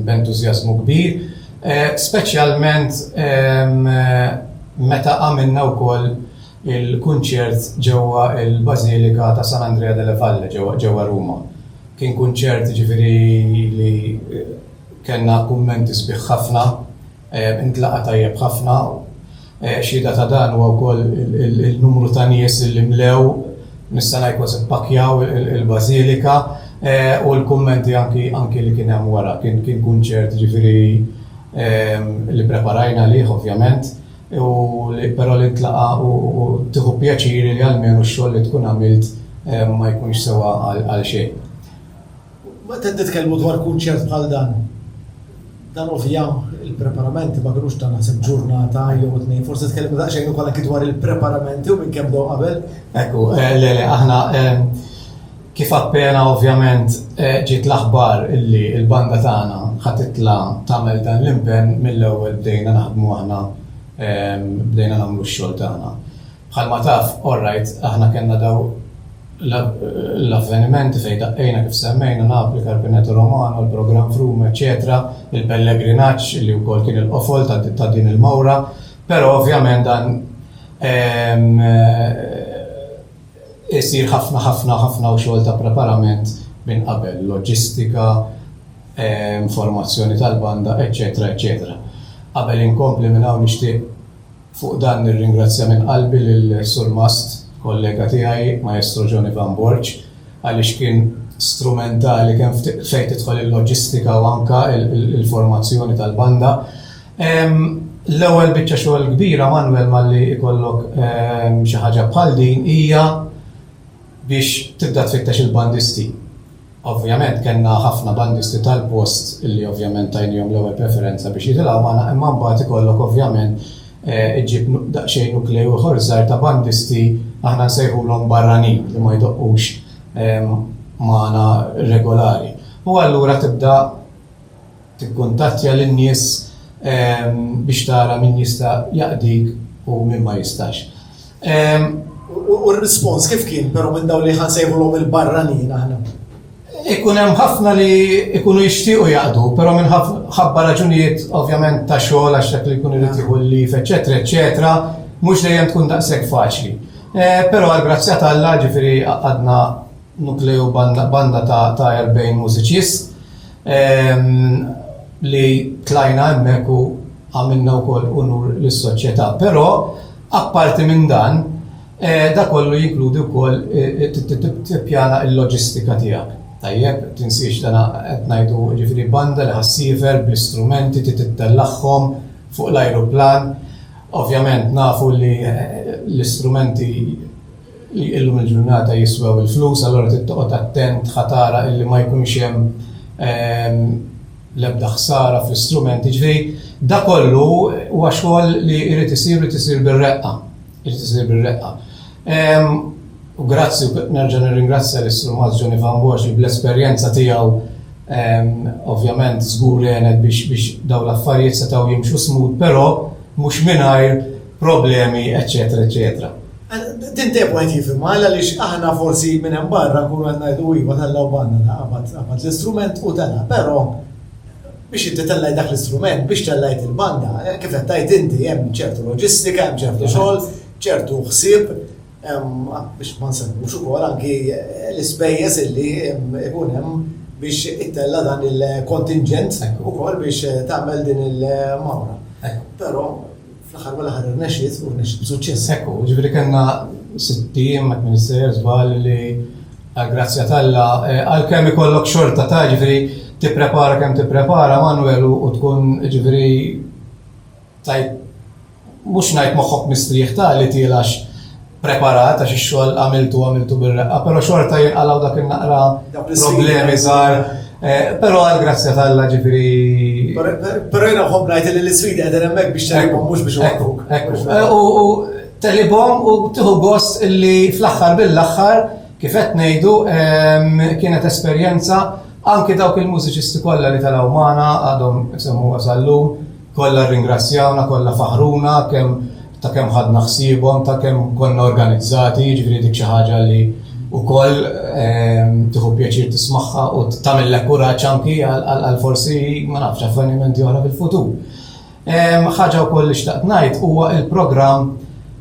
b'entużjażmu kbir, speċjalment meta għamilna wkoll Il-kunċert ġewwa l-Bażilika ta' San Andrea delle Valle ġewwa Ruma kien kunċert jiġifieri li kellna kummenti sbieħ ħafna, intlaqa' tajjeb ħafna. Xhieda ta' dan huwa wkoll in-numru ta' nies li mlew, nista' ngħid kważi ppakkjaw il-Bażilika u l-kummenti anki li kien hemm wara. Kien kunċert jiġifieri li ppreparajna għalih ovvjament. u li però li tlaqa' u tieħu pjaċir li almenu x-xogħol li tkun għamilt ma jkunx sewa għal xejn. Waqt qed nitkellmu dwar kunċert bħal dan, dan ovvja il-preparamenti ma kinux ta' naħseb ġurnata jew tnejn, forsi tkellimna daqsxejn ukoll anki dwar il-preparamenti u minn kemm bdew qabel. Ekku, le, le, aħna Kif appena ovvjament ġiet l-aħbar li l-banda tagħna ħa titla' tagħmel dan l-impenn, mill-ewwel bdejna naħdmu aħna bdejna nagħmlu x-xogħol tagħna. Bħalma taf, orrajt, aħna kellna daw l-avvenimenti fejn daqqejna kif semmejna Napli, Carpineto Romano, il-programm Froome eċċetera, il-pellegrinaġġ li wkoll kien il-qofol ta' din il-mawra, però ovvjament dan Isir ħafna ħafna ħafna xogħol ta' preparament minn qabel, loġistika, informazzjoni tal-banda, eċċetera eċċetera. Qabel inkompli minn hawn nixtieq fuq dan nirringrazzja minn qalbi lil Surmast, kollega tiegħi, Maestro Joni Van Borġ, għaliex kien strumentali kemm fejn tidħol il-loġistika u anke l-formazzjoni tal-banda. L-ewwel biċċa xogħol kbira Manwel malli ikollok xi ħaġa bħal din hija biex tibda tfittex il-bandisti. Ovvjament kellna ħafna bandisti tal-post li ovvjament tajniehom l-ewwel preferenza biex jitilgħu magħna imma mbagħad ikollok ovvjament iġġib daqsxejn nukleu ieħor żgħir ta' bandisti aħna nsejħulhom barranin li ma jdoqqux magħna regolari. U allura tibda Tikkuntattja lin-nies biex tara min jista' jaqdik u min ma jistax. U r-rispons kif kien però minn dawk li ħa nsejħulhom il-barranin aħna? Ikun hemm ħafna li jkunu jixtiequ jaqdu, però minħabba raġunijiet ovvjament ta' xogħol għax dak li jkun irid jieħu l-leave eċċetera eċċetera, mhux dejjem tkun daqshekk faċli. Però għall-grazzja t'Alla, ġifieri għaqadna Nukleu banda ta' erbgħin mużiċist li tlajna hemmhekk u għamilna wkoll unur lis-soċjetà. Però apparti minn dan, dan kollu jinkludi wkoll tippjana l-loġistika tiegħek. Tajjeb, tinsiex dan qed ngħidu jiġifieri banda li ħa ssiefer bl-istrumenti trid ittellagħhom fuq l-ajruplan. Ovvjament nafu li l-istrumenti li illum il-ġurnata jiswew il-flus allura trid toqgħod attent ħa tara illi ma jkunx hemm l-ebda ħsara fl-istrumenti. Ġifieri dak kollu huwa xogħol li jrid isir u jrid isir bir-reqqa, irid isir bir-reqqa. U grazzi u nerġa' nirringrazzja lis-Sur Mars Ġoni Van Borx li bl-esperjenza tiegħu ovvjament żgur għenet biex dawn l-affarijiet setgħu jimxu smooth però mhux mingħajr problemi, eċċetera, eċċetera. Din dejjem wieħed jifhimha għaliex aħna forsi minn hemm barra nkunu qed ngħidu iva tellgħu banna qabad l-istrument u tella, però biex inti tellaj dak l-istrument, biex tellajt il-banda, eh, kif qed tgħid inti hemm ċertu loġistika, hemm ċertu xogħol, ċertu ħsieb, biex ma nsemmux ukoll anki eh, l-ispejjeż illi ikun hemm biex ittella dan il-kontingent ukoll biex eh, tagħmel din il-mawra. Però Fl-aħħar mill-aħħar irnexxiet u rnexxiet b'suċċess. Hekk hu, jiġifieri kellna sitt ijiem ma tmien sejjer żball li għall-grazzja t'Alla għalkemm ikollok xorta ta' jiġifieri tipprepara kemm tipprepara Manwel u tkun jiġifieri tajt mhux ngħid moħħok mistrieħ ta' li tielgħax preparat għax ix-xogħol għamiltu għamiltu bir-reqqa, però xorta jinqalgħu dak in-naqra problemi żgħar. Eh, però għal grazzja tal-la ġifiri. Però jena ħobb ngħid li l-isfidi qegħdin hemmhekk biex telibhom mhux biex waqtuk. Eh, u telibhom u tieħu gost illi fl-aħħar bil-aħħar kif qed ngħidu ehm, kienet esperjenza anke dawk il-mużiċisti kollha li tal-awmana għadhom semmu għasallum Kollha rringrazzjawna, kollha faħħruna kemm ta' kemm ħadna ħsiebhom, ta' kemm konna organizzati, jiġifieri dik xi ħaġa li wkoll tieħu pjaċir tismagħha u tagħmillek kuraġġ anki għal forsi ma nafx avvenimenti oħra fil-futur. Ħaġa wkoll li xtaqt ngħid huwa l-programm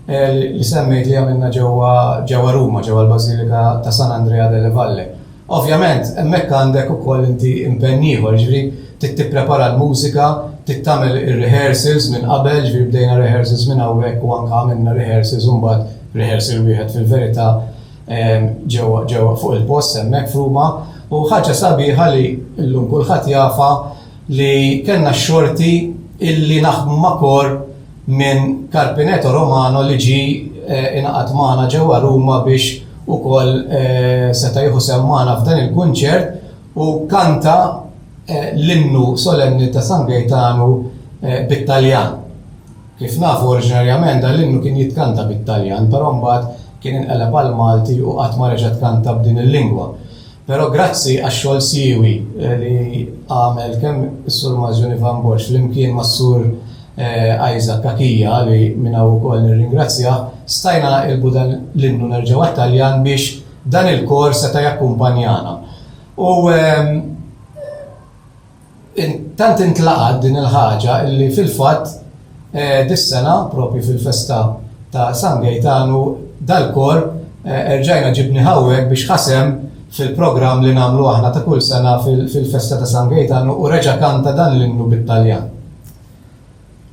li semmejt li għamilna ġewwa Ruma, ġewwa l-Bażilika ta' San Andrea delle Valle. Ovvjament, hemmhekk għandek ukoll inti impenn ieħor, jiġifieri trid tipprepara l-mużika, trid tagħmel ir-rehearsals minn qabel, jiġifieri bdejna rehearsals minn hawnhekk u anke għamilna rehearsals u mbagħad rehearsal wieħed fil-verità ġewwa ġewwa fuq il-post hemmhekk f'Ruma. U ħaġa sabiħa li llum kulħadd jafha li kellna x-xorti illi naħdmu ma' kor minn Carpineto Romano li ġie ingħaqad magħna ġewwa Ruma biex ukoll seta' jieħu sehem magħna f'dan il-kunċert u kanta l-innu solenni ta' San Gejtanu bit-Taljan. Kif nafu oriġinarjament dan l-innu kien jitkanta bit-Taljan però mbagħad kien inqeleb għall-Malti u qatt ma reġa' tkanta b'din il-lingwa. Però grazzi għax-xogħol siewi li għamel kemm is-Sur Mazzjoni Van Borx flimkien mas-Sur Isaac Cachia li minn hawn ukoll nirringrazzjah, stajna nqilbu dan l-innu nerġgħu għat-Taljan biex dan il-kor seta' jakkumpanjana. U Tant intlaqgħet din il-ħaġa illi fil-fatt dis-sena propju fil-festa ta' San Gejtanu dal-kor erġajna ġibni hawnhekk biex ħa sehem fil-programm li nagħmlu aħna ta' kull sena fil-festa ta' San Gejtanu u reġa' kanta dan l-innu bit-Taljan.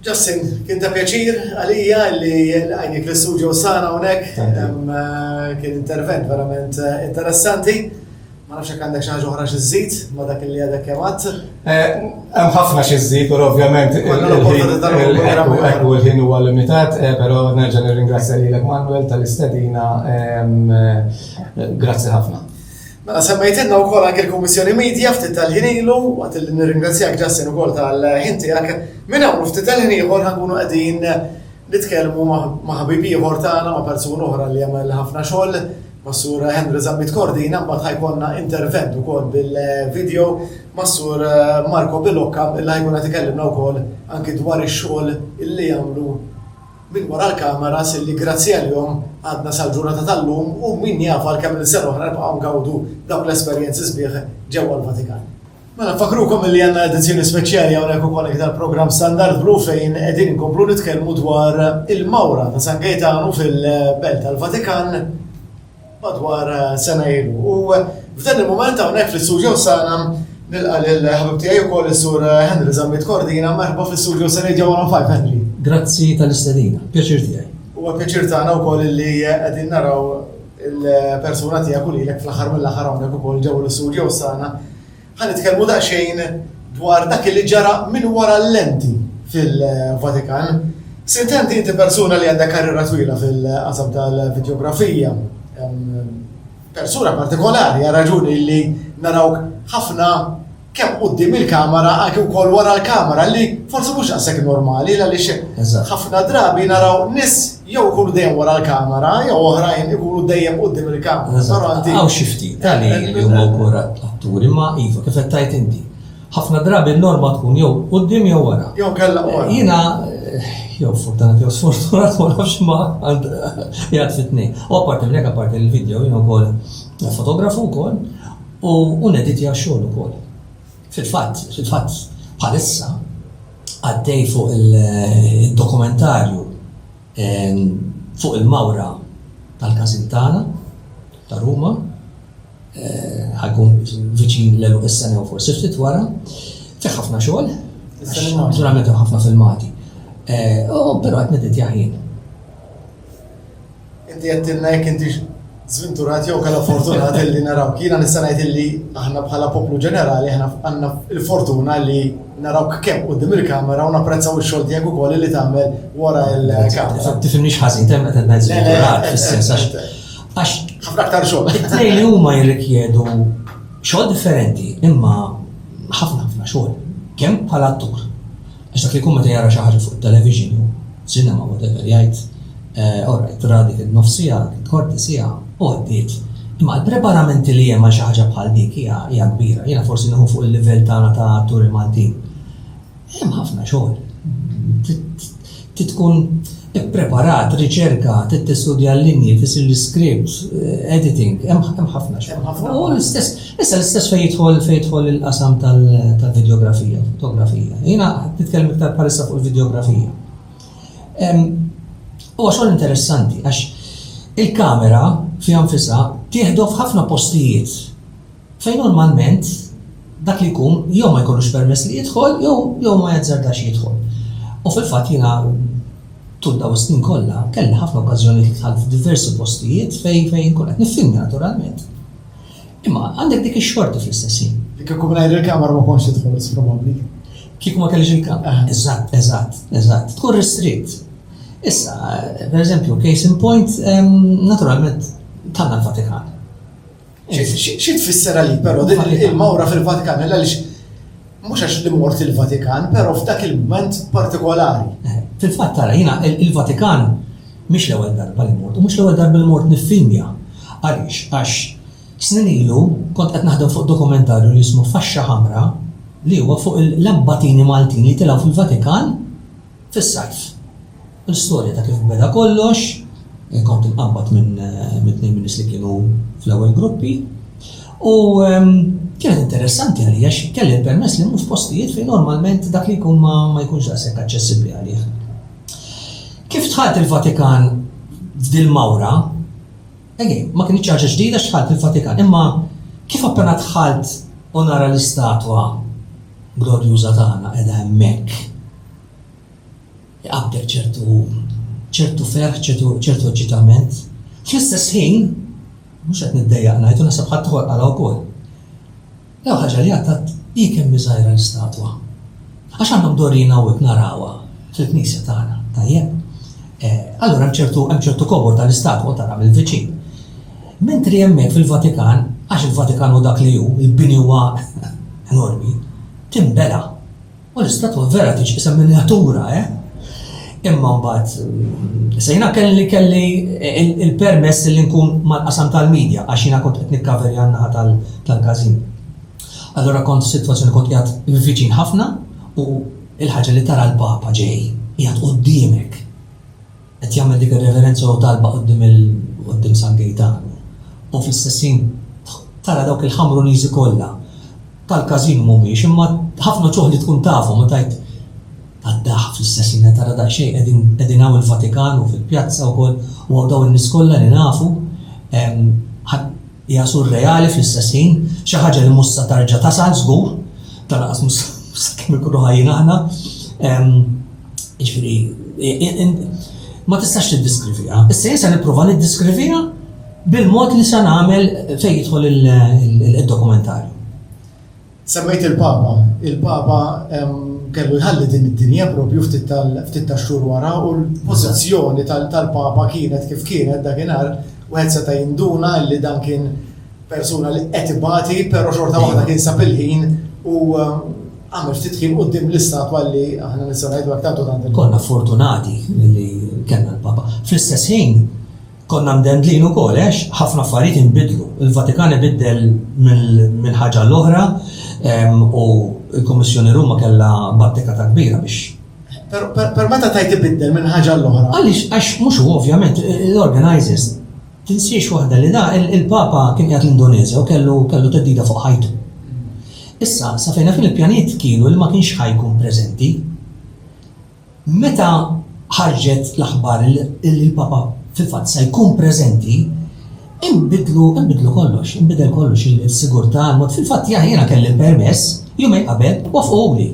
Justin, kien ta' pjaċir għalija li għajnik l-istudio sana unek, kien intervent verament interessanti. Ma nafx jekk għandek xi ħaġa oħra xi żżid ma' dak li għadek kemm għadt. Hemm ħafna xi żżid, però ovvjament il-ħin huwa limitat, però nerġa' nirringrazzja lilek Manwel tal-istedina. Grazzi ħafna. Mela semmejtilna wkoll anke l-Kummissjoni Media ftit tal-ħin ilu, waqt li nirringrazzjak Justin ukoll tal-ħin tiegħek. Minn hawn u ftit tal-ħin ieħor ħa nkunu qegħdin nitkellmu ma' ħabib ieħor tagħna, ma' persuna oħra li għamel ħafna xogħol, mas-Sur Henry Zammit Cordina, mbagħad ħa jkollna intervent ukoll bil-video mas-Sur Marco Billocca li ħa jkun qed ikellimna wkoll anke dwar ix-xogħol li jagħmlu. minn wara l-kameras illi grazzi għalihom għadna sal-ġurnata tal-lum u min jaf għal kemm-il sena oħra nibqgħu ngawdu dawk l-esperjenzi sbieħ ġewwa l-Vatikan. Mela nfakkrukom illi għandna edizzjoni speċjali hawnhekk ukoll anki tal-programm Standard Blu fejn qegħdin inkomplu nitkellmu dwar il-mawra ta' San Gejtanu fil-Belt tal-Vatikan. madwar sena ilu. U f'dan il-mument hawnhekk fl-istuġjows tagħna nilqa' lil ħabib tiegħi wkoll is-Sur Henry Zammit Cordina, merħba fl-istuġjows ta' Radio 105 Henry. Grazzi tal-istedina, pjaċir tiegħi. Huwa pjaċir tagħna wkoll li qegħdin naraw il-persuna tiegħek u lilek fl-aħħar mill-aħħar hawnhekk ukoll ġewwa l-istuġjows tagħna. Ħa nitkellmu daqsxejn dwar dak li ġara minn wara l-lenti fil-Vatikan. Sintendi inti persuna li għandha karriera twila fil-qasam tal-vidjografija, persuna partikolari għal raġuni li narawk ħafna kemm quddiem il-kamera anke wkoll wara l-kamera li forsi mhux daqshekk normali għaliex ħafna drabi naraw nies jew ikunu dejjem wara l-kamera, jew oħrajn ikunu dejjem qudiem il-kamera. Saranti. Għaw xifti, tali eh, li huma eh. wkoll atturi, ma iva, kif qed tajt inti. Ħafna drabi n-norma tkun jew qudiem jew wara. Jew kellha wara. Eh, jiena jew fortunat jew sfortunat ma nafx ma jgħad fitni. U apparti minn hekk apparti l-video jiena wkoll fotografu wkoll u uneditja xogħol ukoll. Fil-fatt, fil-fatt bħalissa għaddej fuq il-dokumentarju fuq il-mawra tal-każin tagħna ta' Ruma, ħajkun viċin l-eluq is-sena u forsi ftit wara, fi ħafna xogħol, naturalment hemm ħafna filmati. Però qed niditja ħin. Inti għedtilna jekk intix żvinturat jew kellha fortunat illi narawk. Jiena nista' ngħid illi aħna bħala poplu ġenerali aħna għandna l-fortuna li narawk kemm quddiem il-kamera u napprezzaw ix-xogħol tiegħek ukoll li tagħmel wara l-kamera. Tifhimniex ħażin temp qed ngħid żvinturat fis-sens għax ħafna aktar xogħol. It-tnejn li huma jirrikjedu xogħol differenti imma ħafna ħafna xogħol kemm bħala attur Għax dak li jkun meta jara xi ħaġa fuq it-television jew cinema whatever jgħid, eh, all right, ra dik in-nofs siegħa, dik il-kwarti siegħa, u għaddiet. Imma l-preparamenti li hemm għal xi ħaġa bħal dik hija hija kbira. Jiena forsi nieħu fuq il-livell tagħna ta' atturi Maltin. Hemm ħafna xogħol. Titkun Ippreparat, riċerka, trid tistudja l-linji, tfissil l-iskript, editing, hemm ħafna xogħol. Hemm ħafna. U l-istess, issa l-istess fejn jidħol fejn jidħol il-qasam tal-videografija, fotografija. Jiena nitkellem iktar bħalissa fuq il-videografija. Huwa xogħol interessanti għax il-kamera fiha nfisha tieħdu f'ħafna postijiet Fejn normalment dak li jkun jew ma jkollux permess li jidħol jew ma jazzardax jidħol. U fil-fatt jiena tul dawn is-snin kollha kelli ħafna okkażjonijiet li dħalt f'diversi postijiet fejn fejn inkun qed niffilmja naturalment. Imma għandek dik ix-xorti fl-istess ħin. Kieku mingħajr il-kamera ma kontx tidħol probabbli. Kieku ma kellix il-kamera. Eżatt, eżatt, eżatt. Tkun ristritt. Issa, per eżempju, case in point, naturalment, tanna l-Vatikan. Xi tfisser għalik però din il-mawra fil-Vatikan għaliex mhux għax li mort il-Vatikan, però f'dak il-moment partikolari. Eh, fil-fatt tara jiena il-Vatikan mhix l-ewwel darba li mort, u mhux l-ewwel darba li mort niffinja. Għaliex għax snin ilu kont qed naħdem fuq dokumentarju li jismu Faxxa Ħamra li huwa fuq l-abbatini Maltin li tilgħu fil-Vatikan fis-sajf. L-istorja ta' kif beda kollox, kont imqabbad minn tnejn min-nies li kienu fl-ewwel gruppi u kienet interessanti għalija għax kelli l-permess li mmur f'postijiet fejn normalment dak li jkun ma jkunx daqshekk aċċessibbli għalih. Kif dħalt il-Vatikan f'dil-mawra, again, ma kienx ħaġa ġdida x'dħalt il-Vatikan, imma kif appena dħalt u nara l-istatwa glorjuża tagħna qiegħda hemmhekk, Iqabbel ċertu ħub, ċertu ferħ, ċertu eċċitament. Fl-istess ħin, mhux qed niddejjaq ngħid u naħseb ħaddieħor qalha wkoll, l-ewwel ħaġa li għadd hi kemm hi żgħira l-istatwa. Għax aħna mdorrijin hawnhekk narawha fil-knisja tagħna, tajjeb? Eh, allura hemm ċertu hemm ċertu kobor tal-istatwa tara mill-viċin. Mentri hemmhekk fil-Vatikan, għax il-Vatikan hu dak li hu, il-bini huwa enormi, timbela. U l-istatwa vera tiġqisem miniatura, eh? Imma mbagħad mm, sejna kelli kelli il-permess li nkun mal-qasam tal-medja għax jiena kont qed nikkaverja naħa tal-każin. Allora kont situazzjoni kont qiegħed viċin ħafna u il-ħaġa li tara l-papa ġej qiegħed qudiemek. qed jagħmel dik ir-reverenza jew talba quddiem il quddiem San Gejtanu u fl-istess ħin tara dawk il-Ħamruniżi kollha tal-każin mhumiex imma ħafna ċuħ li tkun tafhom u tajt għaddaħ fl-istess ħin tara daqsxejn qegħdin qegħdin hawn il-Vatikan u fil-pjazza wkoll u dawn in-nies kollha li nafu Hija surreali fl-istess ħin, xi ħaġa li mhux sa tarġa' tasal żgur, ta' lanqas mhux sakemm inkunu ħajjin aħna. Jiġifieri, ma tistax tiddiskriviha. Issa jien se nipprova niddiskriviha bil-mod li se nagħmel fejn jidħol il-dokumentarju. Semmejt il-Papa. Il-Papa kellu jħalli din id-dinja propju ftit tax-xhur wara u l-pożizzjoni tal-Papa kienet kif kienet dakinhar wieħed seta' jinduna li dan kien persuna li qed ibati, però xorta waħda kien sab il-ħin u għamil ftit ħin qudiem l-istatwa li aħna nistgħu ngħidu aktar tant. Konna fortunati li kellna l-Papa. Fl-istess ħin Konna mdendlin ukoll għax ħafna affarijiet inbidlu. Il-Vatikan ibiddel minn ħaġa għal oħra u l-Kummissjoni Ruma kellha battika ta' kbira biex Per meta tajt ibiddel minn ħaġa l-oħra. Għaliex għax mhux u ovvjament l-organizers tinsiex waħda li da il-Papa kien qiegħed l-Indonezja u kellu kellu teddida fuq ħajtu. Issa, sa fejna fin il-pjaniet kienu li ma kienx ħajkun preżenti. Meta ħarġet l-aħbar li l-Papa fil-fatt se jkun preżenti, inbidlu inbidlu kollox, inbidel kollox il-sigurtà, mod fil-fatt ja jiena kelli l-permess jumejn qabel wafquli.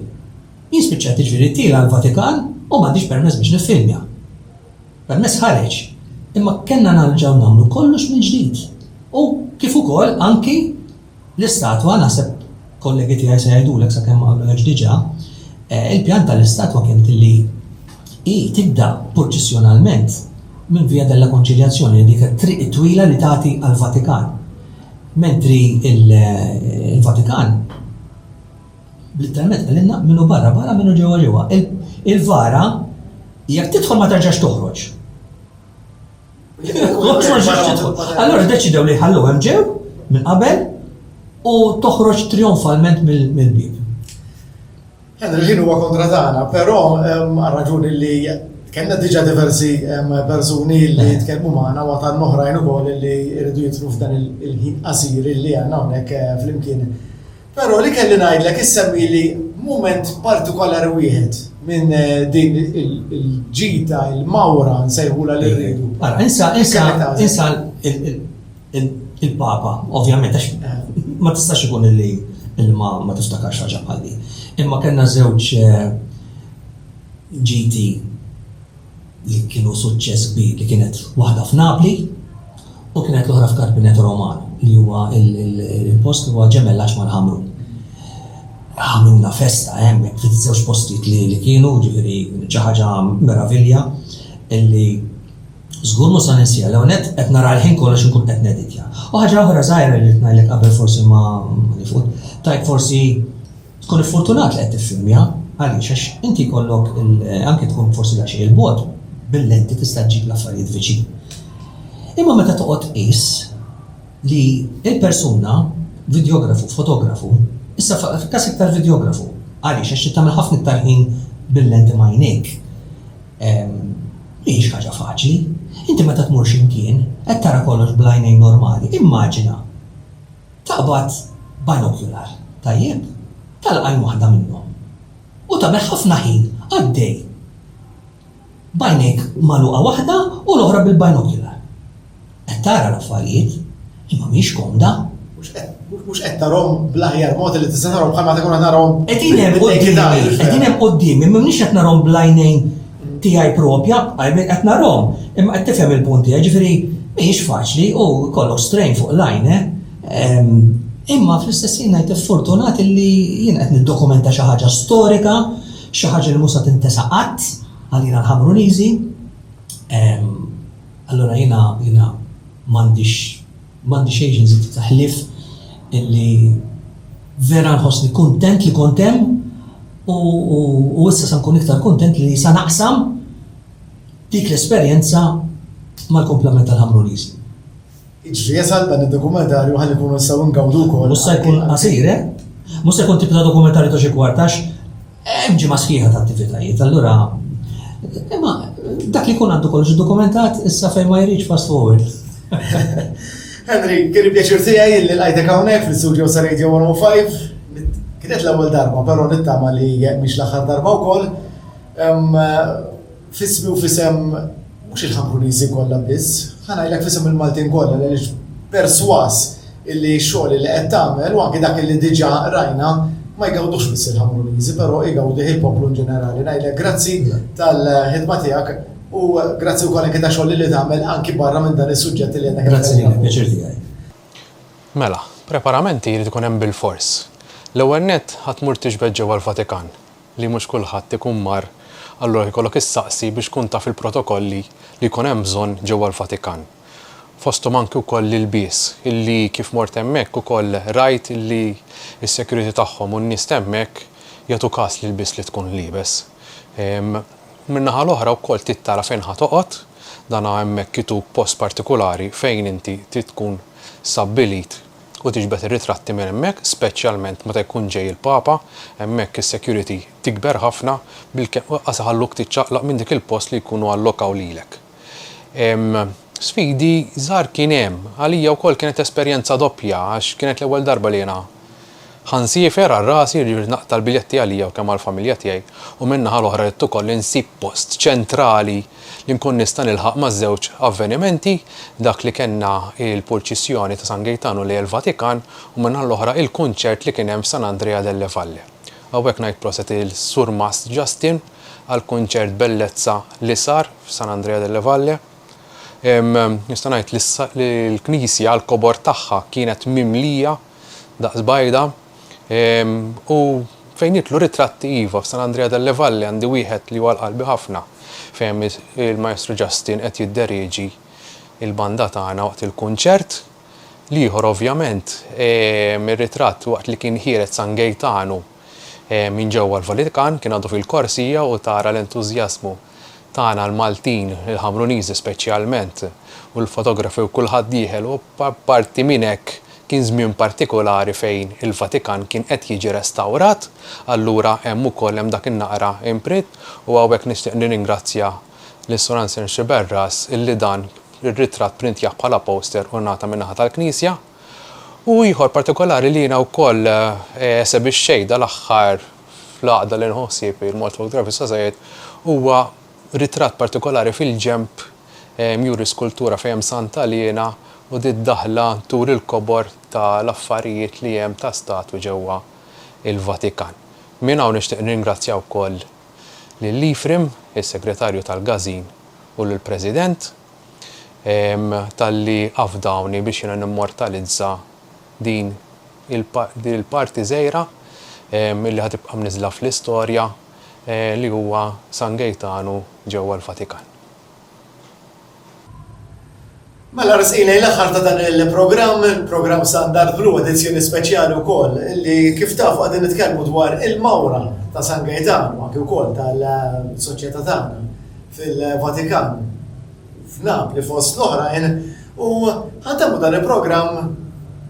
Jien spiċċajt iġifieri tiela l-Vatikan u m'għandix permess biex niffilmja. Permess ħareġ, imma kellna narġgħu nagħmlu kollox mill-ġdid u kif ukoll anki L-istatwa, naħseb kollegi tiegħi se jgħidulek sakemm ma għamluhiex diġà, il-pjan tal-istatwa kienet illi hi tibda purċissjonalment minn Via della Conciliazione, dik it-triq it-twila li tagħti għall-Vatikan. Mentri il-Vatikan literalment qalilna minnu barra barra minnu ġewwa ġewwa. Il-vara jekk tidħol ma terġax toħroġ. Allora deċidew li ħallu hemm ġew minn qabel u toħroġ trionfalment mill-bib. Għad il-ħin huwa kontra tagħna, però raġuni li kellna diġa diversi persuni li eh. tkellmu magħna u għatan oħrajn ukoll li jridu jitru f'dan il-ħin qasir li għandna hawnhekk eh, flimkien Però li kelli ngħidlek issemmieli mument partikolari wieħed minn din il-ġita, il-mawra nsejħulha li rridu. Ara, insa, insa, insa il-Papa, ovvjament, għax eh. ma tistax ikun illi il-ma ma tiftakarx ħaġa bħal Imma kellna żewġ eh, ġiti li kienu suċċess kbir, li kienet waħda f'Napli u kienet l-oħra f'Carpineto Romano, li huwa l-post li huwa ġemellaġġ mal-Ħamrun. Għamilna festa hemm fiż-żewġ postijiet li kienu, ġifieri xi ħaġa meravilja illi Żgur mhux sa ninsija l net qed nara l-ħin kollox inkun qed neditja. U ħaġa oħra żgħira li ngħidlek qabel forsi ma nifut, tajk forsi Tkun iffortunat li qed tiffilmja, għaliex? Għax inti jkollok il, anke tkun forsi daqsxejn 'il bogħod, bil-lenti tista' ġġib l-affarijiet viċin. Imma meta toqgħod tqis li l-persuna, vidjografu, fotografu, issa fil-każ iktar vidjografu, għaliex? Għax trid tagħmel ħafna iktar ħin bil-lenti m'għajnejk, mhijiex ħaġa faċli. Inti meta tmur xi mkien, qed tara kollox bl-għajnejn normali, immaġina. Qabad binocular tajjeb tal-għajn waħda minnhom u tagħmel ħafna ħin għaddej b'għajnejk magħluqa waħda u l-oħra bil-binocular. Qed tara l-affarijiet, imma mhix komda. Mhux qed tarahom bl-aħjar mod li tista' tarahom bħalma tkun qed tarahom. Qegħdin hemm quddiemi, qegħdin hemm quddiemi, m'hemmniex qed narahom bl-għajnejn tiegħi proprja b'għajnejn qed narahom, imma qed tifhem il-punt tiegħi, jiġifieri mhijiex faċli u jkollok strain fuq l-għajn, eh? Imma fl-istess ħin ngħid iffortunat li jien qed niddokumenta xi ħaġa storika, xi ħaġa li mhux se tintesa qatt għalina l-Ħamruniżi. Allura jiena jiena m'għandix M'għandi xejn xi nżid ħlief illi vera nħossni kuntent li kont hemm u issa se nkun iktar kuntent li se naqsam dik l-esperjenza mal-kumplament tal-Ħamruniżi. Jiġri jasal dan id-dokumentarju ħalli nkunu nistgħu ngawdu wkoll. Mhux se jkun qasir, eh? Mhux se jkun tip ta' dokumentarju ta' xi kwart għax Hemm ġimgħa sħiħa ta' attivitajiet, allura imma dak li jkun għandu kollox dokumentat issa fejn ma jridx fast forward. Henry, kien pjaċir tiegħi li lajtek hawnhekk fl-istudio sa Radio 105. Kienet l-ewwel darba, però nittama li mhix l-aħħar darba wkoll. F'ismi u f'isem mhux il-Ħankuniżi kollha biss, ħa ngħidlek f'isem il-Maltin kollha għaliex persważ illi x-xogħol illi qed tagħmel u anki dak illi diġà rajna ma jgawdux biss il-Ħankuniżi però igawdih il-poplu in ġenerali. Ngħidlek grazzi tal-ħidma tiegħek u grazzi wkoll anki tax-xogħol illi tagħmel anki barra minn dan is-suġġett illi qed nitkellmu. Grazzi lilek, pjaċir tiegħi. Mela, preparamenti jrid ikun hemm bilfors. L-ewwel nett ħa tmur tixbed ġewwa l-Vatikan. li mhux kulħadd ikun mar, allura jkollok issaqsi biex tkun taf il-protokolli li jkun hemm bżonn ġewwa l-Vatikan. Fosthom anki wkoll l-ilbies, illi kif mort hemmhekk ukoll rajt illi s-security tagħhom u n-nies t'hemmhekk jagħtu kas l-ilbies li tkun liebes. Min-naħa l-oħra wkoll trid tara fejn ħa toqgħod, dan hemmhekk ituk post partikulari fejn inti trid tkun stabbilit. u tiġbed ir-ritratti minn hemmhekk speċjalment meta jkun ġej il-Papa, hemmhekk is-security tikber ħafna bilkemm lanqas iħalluk tiċċaqlaq minn dik il-post li jkunu allokaw lilek. Sfidi żgħar kien hemm, għalija wkoll kienet esperjenza doppja għax kienet l-ewwel darba li jiena Ħa nsiefer għal rasi irrid naqta' l-biljetti għalija u kemm għall-familja tiegħi u min-naħa l-oħra ridt ukoll insib post ċentrali li nkun nista' nilħaq maż-żewġ avvenimenti, dak li kellna il-purċissjoni ta' San Gejtanu lejn il-Vatikan u min-naħa l-oħra il-kunċert li kien hemm f'San Andrea delle Valle. Hawnhekk ngħid proset lil Surmast Justin għall-kunċert bellezza li sar f'San Andrea delle Valle. Nista' ngħid li l-knisja, l-kobor tagħha kienet mimlija, daqs bajda, u fejn jidħlu ritratti iva, f'San Andrea delle Valle għandi wieħed li hu għal qalbi ħafna fejn il-Maestru Justin qed jidderieġi l-banda tagħna waqt il-kunċert. L-ieħor ovvjament ir-ritratt waqt li kien ħiered San Gejtanu, Minn ġewwa l-Vatikan kien għadu fil-korsija u tara l-entużjażmu tagħna l-Maltin, il-Ħamruniżi speċjalment, u l-fotografi u kulħadd dieħel u apparti minn hekk kien żmien partikulari fejn il-Vatikan kien qed jiġi restawrat allura hemm ukoll hemm dak in-naqra imprint u hawnhekk nixtieq nirringrazzja lil Sur Anselm Sciberras illi dan ir-ritratt printjah bħala poster u ngħata min-naħa tal-Knisja. U ieħor partikolari li jiena wkoll eh, esebixxejt dal-aħħar fl-għaqda li nħu ħsieb il-Malta Photography Society huwa ritratt partikolari fil-ġenb eh, mjuri skultura fejn hemm Santa Liena u di d-daħla tur il-kobor ta' l-affarijiet li hemm ta' statwi ġewwa il-Vatikan. Minn hawn nixtieq nirringrazzja wkoll lil Ephraim, is-Segretarju tal-Gażin u lill-President talli afdawni biex jiena nimmortalizza din il-parti żgħira li ħa tibqa' mniżżla fl-istorja li huwa San Gejtanu ġewwa l-Vatikan. Mela resqin lejn l-aħħar ta' dan il-programm, programm San Darvlu, edizzjoni speċjali wkoll li kif tafu qegħdin nitkellmu dwar il-mawra ta' San Gejtanu anki wkoll tal-soċjetà tagħna. fil-Vatikan, f'Napli fost l-oħrajn, u ħa ntemmu dan il-programm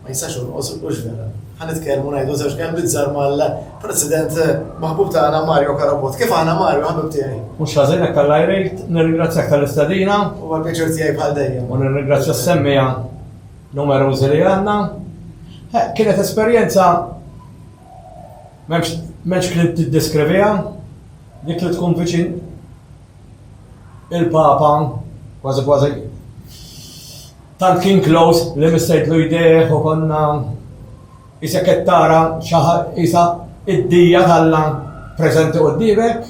ma jistax jonqos hux vera. Ħa nitkellmu ngħidu żewġ kelmiet żgħar mal-President maħbub tagħna Mario Carabott. Kif aħna Mario ħabib tiegħi? Mhux ħażin hekk Alla jrid, nirringrazzjak tal-istedina. Huwa pjaċir tiegħi bħal dejjem. U nirringrazzja s-semmija numerużi li għandna. Kienet esperjenza m'hemmx kliem tiddeskriviha, Dik li tkun viċin il-Papa, kważi kważi, tant kien close li missejtlu jdejh u konna isek qed tara isa id-dija talla preżenti quddiemek.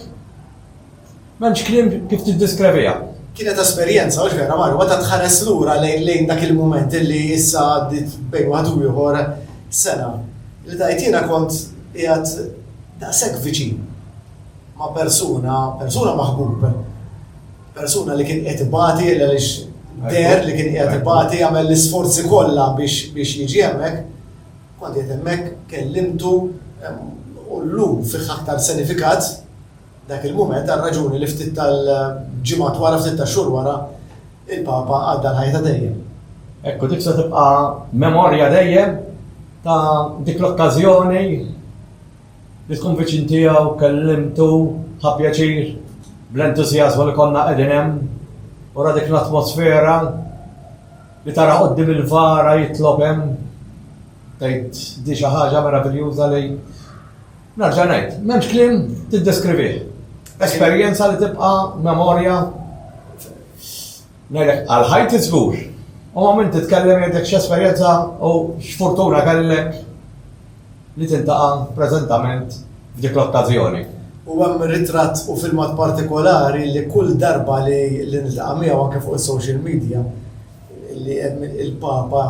M'hemmx kliem kif tiddiskreviha. Kienet esperjenza mhux vera marru, meta tħares lura lejn dak il-mument li issa għaddiet bejn waħed u ieħor sena. Li tgħid jiena kont qiegħed daqshekk viċin ma' persuna, persuna maħbub, persuna li kien qiegħed ibati għaliex deher li kien qiegħed ibati jagħmel l-isforzi kollha biex jiġi hemmhekk, kont qiegħed hemmhekk kellimtu u llum fih aktar sinifikat Dak il-mument, għal raġuni li ftit tal-ġimgħat wara, ftit tax-xhur wara, il-Papa għadda l-ħajja ta' dejjem. Hekk u dik se tibqa' memorja dejjem ta' dik l-okkażjoni li tkun viċin tiegħu kellimtu ta' pjaċir bl-entużjażmu li konna qegħdin hemm wara dik l-atmosfera li tara qoddim il-vara jitlob hemm tgħid di xi ħaġa meraviljuża li Nerġa' ngħid, m'hemmx kliem tiddeskrivih. Esperjenza li tibqa' memorja ngħidlek għal ħajti żgur. U ma minn titkellem jgħidlek x'esperjenza u x'fortuna kellek li tintaqa' preżentament f'dik l-okkażjoni. U hemm ritratt u filmat partikolari li kull darba li niltaqa' miegħu anke fuq is-social media li hemm il-Papa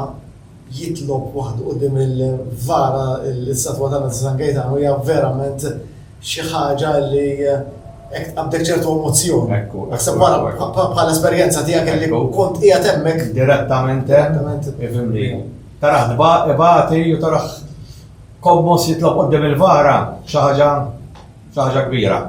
jitlob waħdu quddiem il-VAR l-istatwa ta' Mezzi San Gejtanu hija verament xi ħaġa li hekk tqabdek ċertu emozzjoni. Ekku. Naħseb wara bħala esperjenza tiegħek illi kont qiegħed hemmhekk. Direttament hemm. Ifhimni. Taraħ ibati u taraħ kommos jitlob quddiem il-VAR xi ħaġa xi ħaġa kbira.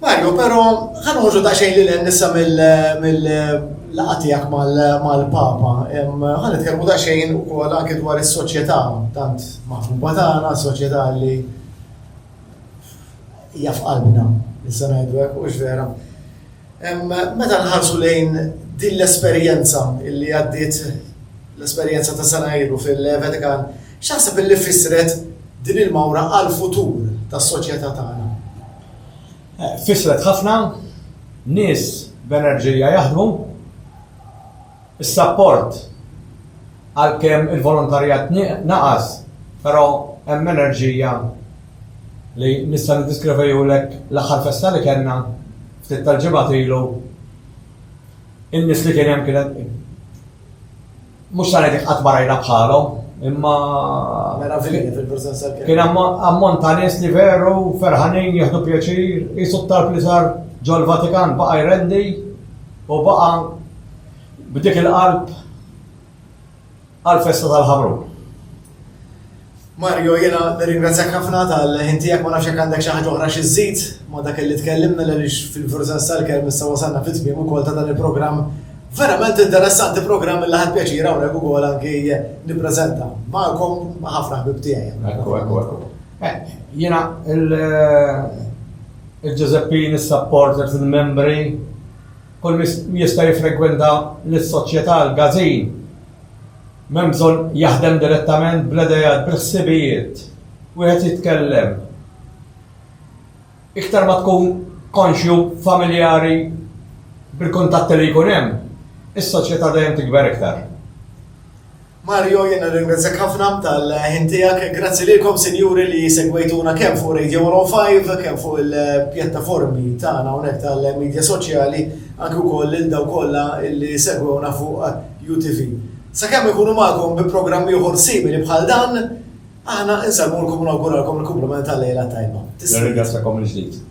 Mario, pero ħa noħorġu daqsxejn lil hemm issa mill-laqgħa tiegħek mal-Papa. Ħa nitkellmu daqsxejn ukoll anke dwar is-soċjetà tant maħbuba tagħna, soċjetà li hija f'qalbna, nista' ngħidu hekk hux vera. Meta nħarsu lejn din l-esperjenza li għaddiet l-esperjenza ta' sena ilu fil-Vatikan, x'aħseb li fissret din il-mawra għall-futur tas-soċjetà tagħna? Fissret ħafna, nies b'enerġija jaħdmu. Is-sapport, għalkemm il-volontarjat naqas, però hemm enerġija li nista' niddiskrivihulek l-aħħar festa li kellna ftit tal-ġimgħat ilu, in-nies li kien hemm kienet, Mhux ta' ngħidlek qatt ma rajna bħalhom, imma Meravigli fil-preżenza kien. Kien ammont ta' nies li veru ferħanin jieħdu pjaċir, qisu t-talb li sar ġol Vatikan baqa' jrendi u baqa' b'dik il-qalb għal festa tal-ħamrun. Mario, jiena nirringrazzjak ħafna tal-ħin tiegħek, ma nafx jekk għandek xi ħaġa oħra xi żżid ma' dak illi tkellimna għaliex fil-veru-sens tal-kelma issa wasalna fit-tmiem ukoll ta' dan il-programm verament interessanti, programm illi ħadt pjaċir hawnhekk ukoll anki nippreżenta magħkom ma' ħafna ħbieb tiegħi. Ekku, ekku, ekku. Jiena il-Ġużeppin, is-supporters, il-membri, kull min jista' jiffrekwenta lis-Soċjetà, il-Gazin, M'hemm bżonn jaħdem direttament bl-ideat, bil-ħsibijiet. Wieħed jitkellem. Iktar ma tkun konxju, familjari bil-kuntatti li jkun hemm, is-soċjetà dejjem tikber iktar. Mario, jien nirringrazzjak ħafna tal-ħin tiegħek. Grazzi lilkom sinjuri li segwejtuna kemm fuq Radio 105, kemm fuq il-pjattaformi tagħna hawnhekk tal-medja soċjali, anke wkoll lil daw kollha li segwewna fuq UTV. Sakemm inkunu magħkom bi programm ieħor simili bħal dan, aħna insellmulkom u nawguralkom il-kumpliment tal-lejla t-tajba. Nirringrazzjakom mill-ġdid.